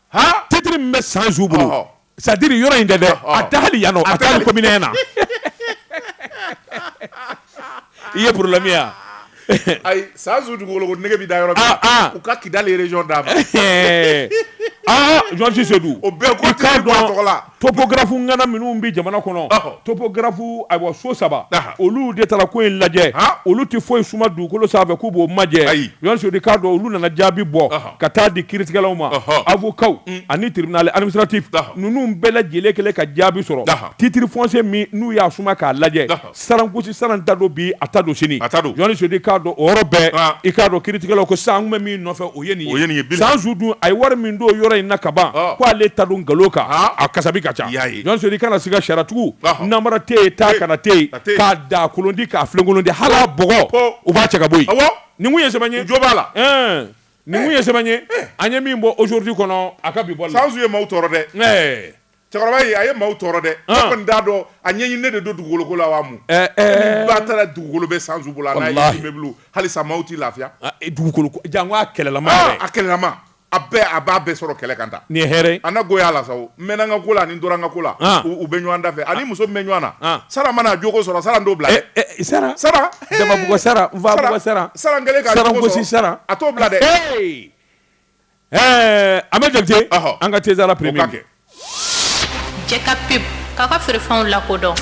titre min bɛ sanzu bolo c'est-à-dire yɔrɔ in tɛ dɛ a tɛ hali yan a tɛ hali commune na i ye problème ye ayi sanzu dugukolo ko nege bɛ da yɔrɔ min u ka kidali région d'a ma jɔn seyidu o bɛɛ k'o tɔgɔ la topographe ŋana minnu bɛ jamana kɔnɔ topographe ayiwa so saba olu de taara ko in lajɛ olu tɛ foyi suma dugukolo sanfɛ k'u b'o majɛ jɔn seyidu i k'a dɔn olu nana jaabi bɔ ka taa di kiiritigɛlaw ma avocatw ani tribunal administratif ninnu bɛɛ lajɛlen kɛlen ka jaabi sɔrɔ titre foncier min n'u y'a suma k'a lajɛ sarankosi sara ta don bi a ta don sini a ta don Jɔn Seyidu i k'a dɔn o yɔrɔ bɛɛ Aa i k'a dɔn kiiritigɛlaw ko sisan an tun bɛ min nɔfɛ o ye nin ye o ye nin ye bilahi sanzu dun a ye wari min don yɔrɔ in na ka ban Ɔɔ ko ale ta don nkalon kan haa a kasabi ka ca i y'a ye Jɔn Seyidu i kana siga sariyatigiw Ɔhɔ namara tɛ yen taa kana tɛ yen a tɛ yen k'a daa kolon di k'a filenkolon di hali a bɔgɔ po u b'a cɛ ka bɔ yen awɔ nin tun ye sɛbɛn ye jo b'a la ɛɛ nin tun ye sɛbɛn ye an ye min bɔ aujourd'hui kɔnɔ a ka bi bɔli la sanzu ye maaw tɔɔrɔ dɛ ɛɛ Cɛkɔrɔba in a ye maaw tɔɔrɔ dɛ, an, ne kɔni t'a dɔn a ɲɛɲini ne de don dugukolo ko la wa mun, ɛɛ, ɛɛ, ba taara dugukolo bɛ Sanzu bolo, walahi, a n'a immeuble halisa maaw tɛ lafiya, a e dugukolo ko, janko a kɛlɛlama yɛrɛ, aa, a kɛlɛlama, a bɛɛ a b'a bɛɛ sɔrɔ kɛlɛ kan tan, nin ye hɛrɛ ye, a na goy'a la sa o, n mɛnna n ka ko la ani n tora n ka ko la, an, u bɛ ɲɔgɔn da fɛ, ani muso min bɛ ɲɔgɔn na, an, Sara mana a jo ko sɔrɔ Sara n t'o bila dɛ, ɛ ɛ Sara, Sara, he, Dababugu Sara, Nfabugu Sara, Sara n kɛlen k'a jo ko sɔrɔ, Saragosi Sara, a t'o bila dɛ, ee. Ɛɛ an bɛ jate an ka tɛsala pe kɛ cɛ ka pe k'a ka feerefɛnw lakodɔn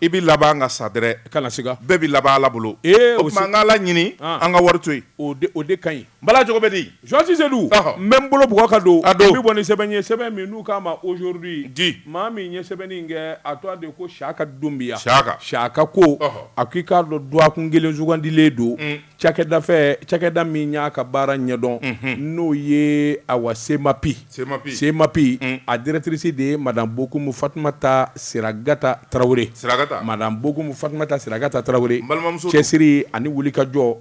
i bɛ laban an ka sa dɛrɛ kana siga bɛɛ bɛ laban ala bolo ee o an ka ala ɲini an ka wari to yen o o de ka ɲi bala cogo bɛ di Jɔn Sedu n bɛ n bolo bugɔ ka don n bɛ bɔ ni sɛbɛn ye sɛbɛn min n'u k'a ma aujourd'hui maa min ye sɛbɛnni in kɛ a tɔgɔ de ko siyaka dunbiya siyaka siyaka ko a k'i k'a dɔn duwakun kelen sugandilen don Cakɛda fɛ cakɛda min y'a ka baara ɲɛdɔn n'o ye awa semapi semapi a directrice de ye madame bokumu fatumata siragata tarawele madame bokumu fatumata siragata tarawele cɛsiri ani wulikajɔ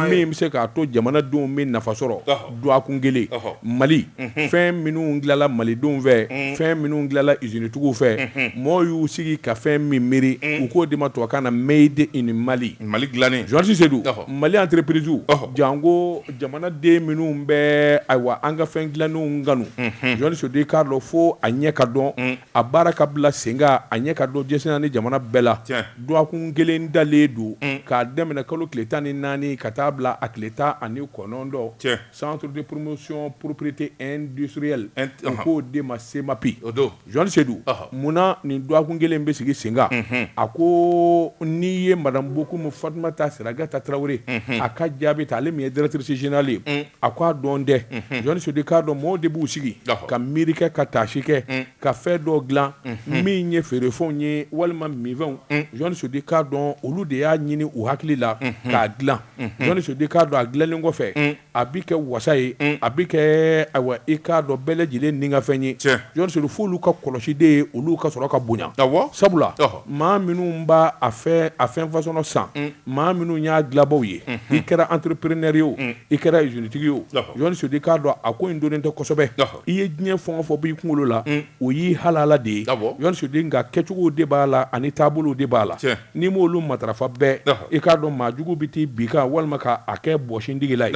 min bɛ se k'a to jamanadenw bɛ nafa sɔrɔ duwakun kelen mali fɛn minnu dilala malidenw fɛ fɛn minnu dilala izinitigiw fɛ mɔgɔw y'u sigi ka fɛn min miiri u k'o de ma tubabukan na made in mali mali dilannen Jɔn Sedu mali entreprisew janko jamanaden minnu bɛ ayiwa an ka fɛn dilalenw kanu Jɔni Sedu i k'a dɔn fo a ɲɛ ka dɔn a baara ka bila sen kan a ɲɛ ka dɔn diɲɛ seleke naani jamana bɛɛ la Dwakun kelen dalen don k'a daminɛ kalo tile tan ni naani ka taa bila a tile tan ani kɔnɔntɔn, Centre de promotion propriété industrielle u k'o de ma CEMAPI, o don, Jɔn Sedu, mun na nin dwakun kelen in bɛ sigi sen kan, a ko n'i ye Madame Bokum Fatumata Siragata Tarawele a ka jaabi ta ale min ye Directrice Générale ye, a ko a dɔn dɛ, Jɔn Sedu i k'a dɔn mɔɔw de b'u sigi ka miiri kɛ ka taasi kɛ ka fɛn dɔ dilan min ye feerefɛnw ye walima minfɛnw Jɔni Sedu i k'a dɔn olu de y'a ɲini u hakili la k'a dilan Jɔni Sedu i k'a dɔn a dilanlen kɔfɛ a bɛ kɛ wasa ye a bɛ kɛ ayiwa i k'a dɔn bɛɛ lajɛlen nikanfɛn ye Jɔni Sedu fo olu ka kɔlɔsi de ye olu ka sɔrɔ ka bonya sabula maa minnu b'a a fɛn fasɔn san maa minnu y'a dilabaw ye i kɛra entrepreneur ye o i kɛra izinitigi ye o Jɔni Sedu i k'a dɔn a ko in dɔnnen tɛ kosɛbɛ i ye diɲɛ fɛn o fɛn b'i kunkolo la o y'i halala de ye Jɔni Sedu nka kɛcogow de b'a la ani taabolow de b'a la n'i m'olu matarafa bɛɛ i k'a dɔn maajugu bɛ taa bin i kan walima k'a kɛ bɔsi a tigi la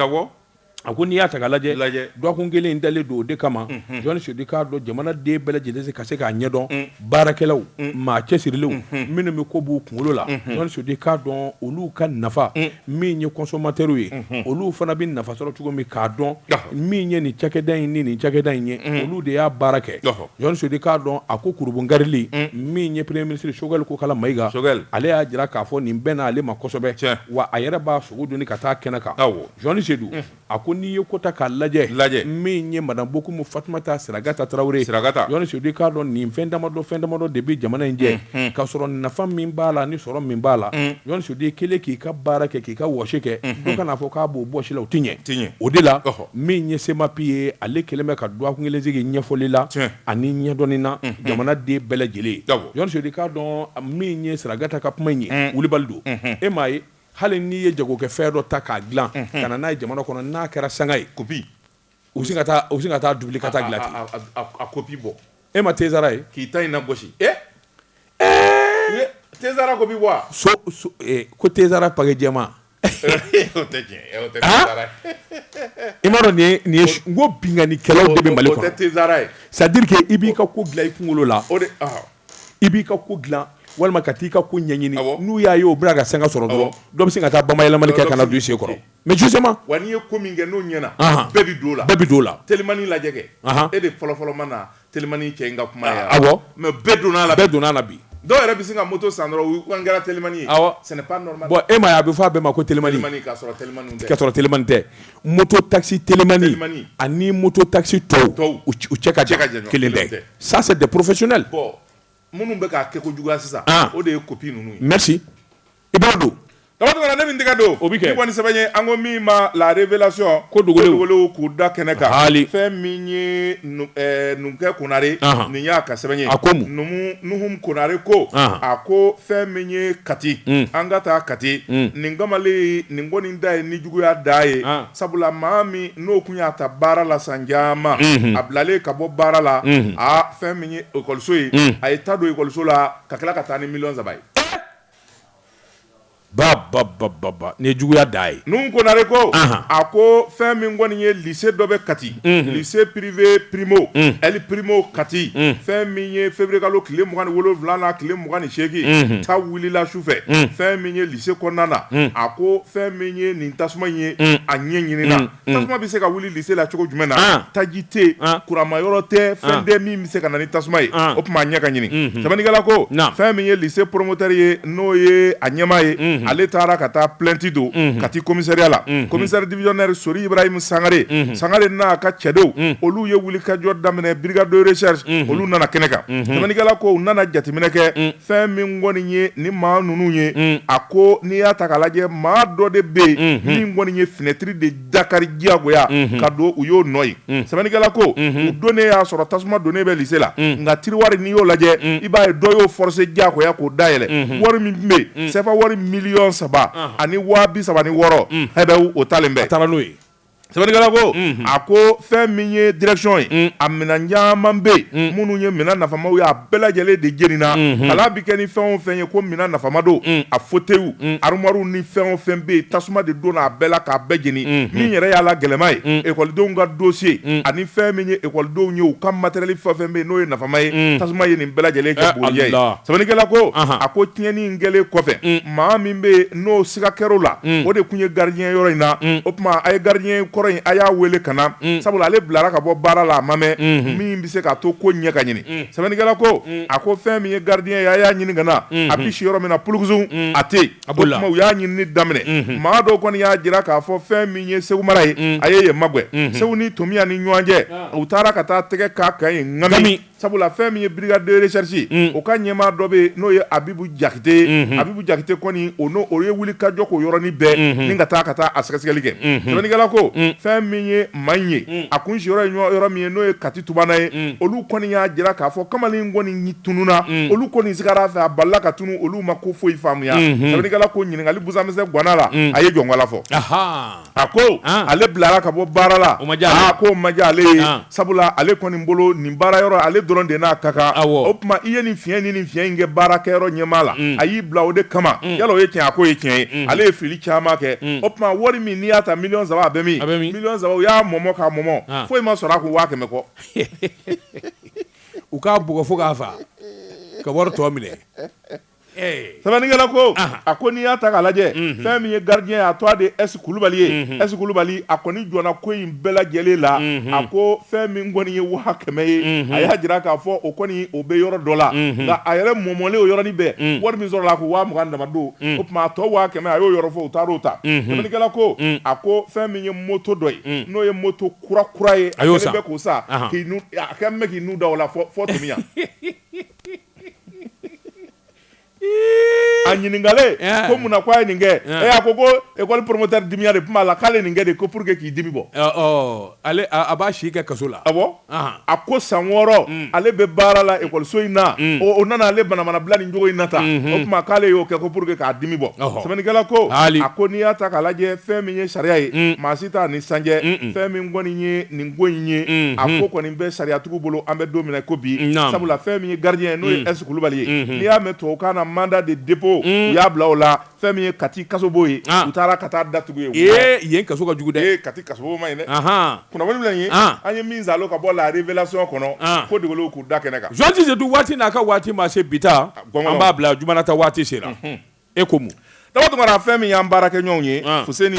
a ko n'i y'a ta k'a lajɛ dɔgɔkun kelen in dalen don o de kama Jɔni Sedu i k'a dɔn jamanaden bɛɛ lajɛlen se ka se k'a ɲɛdɔn baarakɛlaw maa cɛsirilenw minnu bɛ ko b'u kunkolo la jɔni sedu i k'a dɔn olu ka nafa min ye kɔsɔmatɛriw ye olu fana bɛ nafa sɔrɔ cogo min k'a dɔn min ye nin cakɛda in ni nin cakɛda in ye olu de y'a baara kɛ jɔni sedu i k'a dɔn a ko kurunbonkarili min ye premier ministre Choguel Kokala Mayiga ale y'a jira k'a fɔ nin bɛnn'ale ma kosɛbɛ wa a yɛrɛ b'a sogo don ka taa kɛnɛ kan jɔni sedu A ko n'i ye ko ta k'a lajɛ, lajɛ, min ye Madame Bokumu Fatumata Siragata Tarawele, Siragata, Jɔni Sedu i k'a dɔn nin fɛn damadɔ fɛn damadɔ de bɛ jamana in jɛ, unhun, k'a sɔrɔ nafa min b'a la ani sɔrɔ min b'a la, un, Jɔni Sedu i kɛlen k'i ka baara kɛ k'i ka wɔsi kɛ, unhun, dɔ kan'a fɔ k'a b'o bɔsi i la o tɛ ɲɛ, tɛ ɲɛ, o de la, ɔhɔ, min ye CEMAPI ye ale kɛlen bɛ ka dɔgɔkun kelen sigi ɲɛfɔli la, tiɲɛ, ani ɲɛdɔnni na, unhun, jamanaden bɛɛ lajɛlen ye, awɔ, Jɔni Sedu i k'a dɔn min ye Siragata ka kuma in ye, un, wulibali don, unhun, e m'a ye. Hali n'i ye jagokɛfɛn dɔ ta k'a dilan ka na n'a ye jamana kɔnɔ n'a kɛra sanga ye kopi u bɛ se ka taa wuli ka taa dilan a kopi bɔ e ma tɛsara ye k'i ta na gosi e tɛsara kopi bɔ ko tɛsara pake jɛ i m'a dɔn nin ye ko binkannikɛlaw bɛ mali tɛsara ye c'est à dire que i b'i ka ko dilan i kunkolo la o i b'i ka ko dilan walima ka taa i ka ko ɲɛɲini n'u y'a ye o bɛ na ka sanga sɔrɔ dɔrɔn dɔ bɛ se ka taa bayɛlɛmali kɛ ka na don i sen kɔrɔ mais justement wa n'i ye ko min kɛ n'o ɲɛna bɛɛ bɛ don a la bɛɛ bɛ don a la telimani lajɛ kɛ e de fɔlɔfɔlɔ ma na telimani cɛ ka kuma mais bɛɛ donna a la bɛɛ donna a la bi dɔw yɛrɛ bɛ se ka moto san dɔrɔn u kɛra telimani ye ce n'est pas normal bon e m'a ye a bɛ fɔ a bɛɛ ma ko telimani k'a sɔrɔ telimani tɛ moto taxi telimani ani moto taxi tɔw u cɛ ka jan kelen tɛ ça c'est des professionnels bon minnu bɛ k'a kɛ ko juguya sisan ah. o de ye kopi ninnu ye merci i b'a dɔn Tabatɔgɔla ne min tɛgɛ don o bɛ kɛ kɔni sɛbɛn ye an ko min ma la révélation ko dogolew k'u da kɛnɛ kan haali fɛn min ye eh, numukɛ konare nin y'a ka sɛbɛn ye a ko mun numu nuhum konare ko a ko fɛn min ye kati hmm. an ka taa kati hmm. nin kamalen nin kɔni dan ye ni juguya dan ye Sabula maa min n'o tun y'a ta baara la san caman a bilalen ka bɔ baara la fɛn min ye ekɔliso ye a ye ta don ekɔliso la ka tila ka taa ni miliyɔn saba ye bababa ni juguya dan ye nuhum konare ko a ko fɛn min kɔni ye lycée dɔ bɛ kati lycée privé primo ali primo kati fɛn min ye février kalo tile 27 tile 28 ta wulila su fɛ fɛn se kɔnɔna a ko fɛn min ye nin tasuma in ye a ɲɛ ɲinina tasuma bɛ se ka wuli lycée la cogo jumɛn na taji tɛ kuranma yɔrɔ tɛ fɛn tɛ min bɛ se ka na ni tasuma ye o tuma a ɲɛ ka ɲini sɛbɛnnikɛla ko fɛn min ye lycée promoteur ye n'o ye a ɲɛmaa ye ale taara ka taa plainte don kati commissariat la commissaire divisionnaire sori ibrahim sangare sangare n'a ka cɛdenw olu ye wulikajɔ daminɛ brigade de recherche olu nana kɛnɛ kan sɛbɛnnikɛla ko u nana jateminɛ kɛ Fɛn min kɔni ye ni maa ninnu ye a ko n'i y'a ta k'a lajɛ maa dɔ de bɛ yen min kɔni ye finɛtiri de dakari diyagoya ka don u y'o nɔ ye sɛbɛnnikɛla ko u donnen y'a sɔrɔ tasuma donnen bɛ lycée la nka tiroir n'i y'o lajɛ i b'a ye dɔ y'o forcé diyagoya k'o dayɛlɛ wari min bɛ yen sɛfa wari miliyɔn saba ani waa bi saba ni wɔɔrɔ bɛ o talen bɛ a taara n'o ye Sɛbɛnnikɛla ko a ko fɛn min ye direction ye a minɛn caman bɛ yen minnu ye minɛn nafamaw ye a bɛɛ lajɛlen de jenina kalan bɛ kɛ ni fɛn o fɛn ye ko minɛn nafama don a fauteuils armoires ni fɛn o fɛn bɛ yen tasuma de donna a bɛɛ la k'a bɛɛ jeni min yɛrɛ y'a la gɛlɛnma ye ekɔlidenw ka dossier ani fɛn min ye ekɔlidenw ye u ka matériel fɛn o fɛn bɛ yen n'o ye nafama ye tasuma ye nin bɛɛ lajɛlen kɛ bɔnɛ ye sɛbɛnnikɛla ko a ko tiɲɛni kɛlen kɔfɛ maa min bɛ n'o siga kɛra o la, un, o de tun ye gardien ye yɔrɔ in na, un, o tuma a ye gardien kɔrɔ in a y'a wele ka na, un, sabula ale bilara ka bɔ baara la a ma mɛn, unhun, min bɛ se k'a to ko in ɲɛ ka ɲini, un, sɛbɛnnikɛla ko, un, a ko fɛn min ye gardien ye a y'a ɲini ka na, unhun, a bɛ si yɔrɔ min na pulukusun, un, a tɛ yen, a b'o la, o tuma u y'a ɲinini daminɛ, unhun, maa dɔw kɔni y'a jira k'a fɔ fɛn min ye Segu mara ye, un, a ye yen magɛn, unhun, Segu ni Tomiya ni ɲɔgɔn cɛ, u taara ka taa tɛgɛ k'a kan yen ŋami sabula fɛn min ye brigade de recherche o ka ɲɛmaa dɔ bɛ yen n'o ye abibu jakite ye abibu jakite kɔni o n'o o ye wuli ka jɔ k'o yɔrɔnin bɛɛ min ka taa ka taa a sɛgɛsɛgɛli kɛ sɛbɛnnikɛla ko fɛn min ye maa in ye a kun si yɔrɔ ye yɔrɔ min ye n'o ye kati tubana ye olu kɔni y'a jira k'a fɔ kamalen kɔni tununna olu kɔni sigara a fɛ a bala ka tunun olu ma ko foyi faamuya sɛbɛnnikɛla ko ɲininkali busamisɛn ganna la a ye jɔnkɔla fɔ a ko ale bilara ka bɔ baara la ko ma diya ale ye sabula ale kɔni bolo nin baara yɔrɔ ale dɔrɔn de n'a ka kan o tuma i ye nin fiɲɛ ni nin fiɲɛ in kɛ baarakɛyɔrɔ ɲɛmaa la a y'i bila o de kama yala o ye tiɲɛ a ko o ye tiɲɛ ye ale ye fili caman kɛ o tuma wari min n'i y'a ta miliyɔn saba a bɛ min miliyɔn saba u y'a mɔmɔ k'a mɔmɔ foyi ma sɔrɔ a kun waa kɛmɛ kɔ u k'a bugɔ fo k'a faa ka wari tɔ minɛ sɛbɛnnikɛla ko a ko n'i y'a ta k'a lajɛ fɛn min ye gardien ye a tɔgɔ de ye S Kulubali ye S Kulubali a kɔni jɔnna ko in bɛɛ lajɛlen la a ko fɛn min kɔni ye waa kɛmɛ ye a y'a jira k'a fɔ o kɔni o bɛ yɔrɔ dɔ la nka a yɛrɛ mɔmɔlen o yɔrɔnin bɛɛ wari min sɔrɔla a kun waa mugan dama don o tuma a tɔ waa kɛmɛ a y'o yɔrɔ fɔ u taar'o ta sɛbɛnnikɛla ko a ko fɛn min ye moto dɔ ye n'o ye moto kura kura ye a kɛlen bɛ k'o san k'i nu a kɛlen bɛ k'i nu da o la fɔ fɔ Tomiya a ɲininkalen yeah. ko munna ko a ye nin kɛ yeah. e a ko ko ekɔli promoteur dimiya de tun b'a la k'ale nin kɛ de ko pour que k'i dimi bɔ eh, oh, ale a b'a si kɛ kaso la awɔ ah a ko san wɔɔrɔ mm. ale bɛ baara la ekɔliso in na mm. o nana ale banamana bila nin cogo in na tan mm-hmm. o tuma k'ale y'o kɛ ko pour que k'a dimi bɔ sɛbɛnnikɛla ko a ko n'i y'a ta k'a lajɛ fɛn min ye sariya ye mm. maa t'a ni san cɛ fɛn min kɔni ye nin ko in ye a ko kɔni bɛ sariyatigiw bolo an bɛ don min na ko bi sabula fɛn min ye gardien ye n'o ye S kulubali ye n'i y'a mɛn tubabukan na mandat de dépôt u y'a bila o la fɛn min ye kati kasobon ye u taara ka taa datugu ye yen kaso ka jugu dɛ kati kasobon man ɲi dɛ kunnafoni filɛ nin ye an ye min sɔrɔ ka bɔ la révélation kɔnɔ ko dogolenw k'u da kɛnɛ kan jɔn tɛ se don waati n'a ka waati ma se bi ta an b'a bila juma nata waati sera e ko mun daba tunkara fɛn min y'an baarakɛɲɔgɔn ye fuseni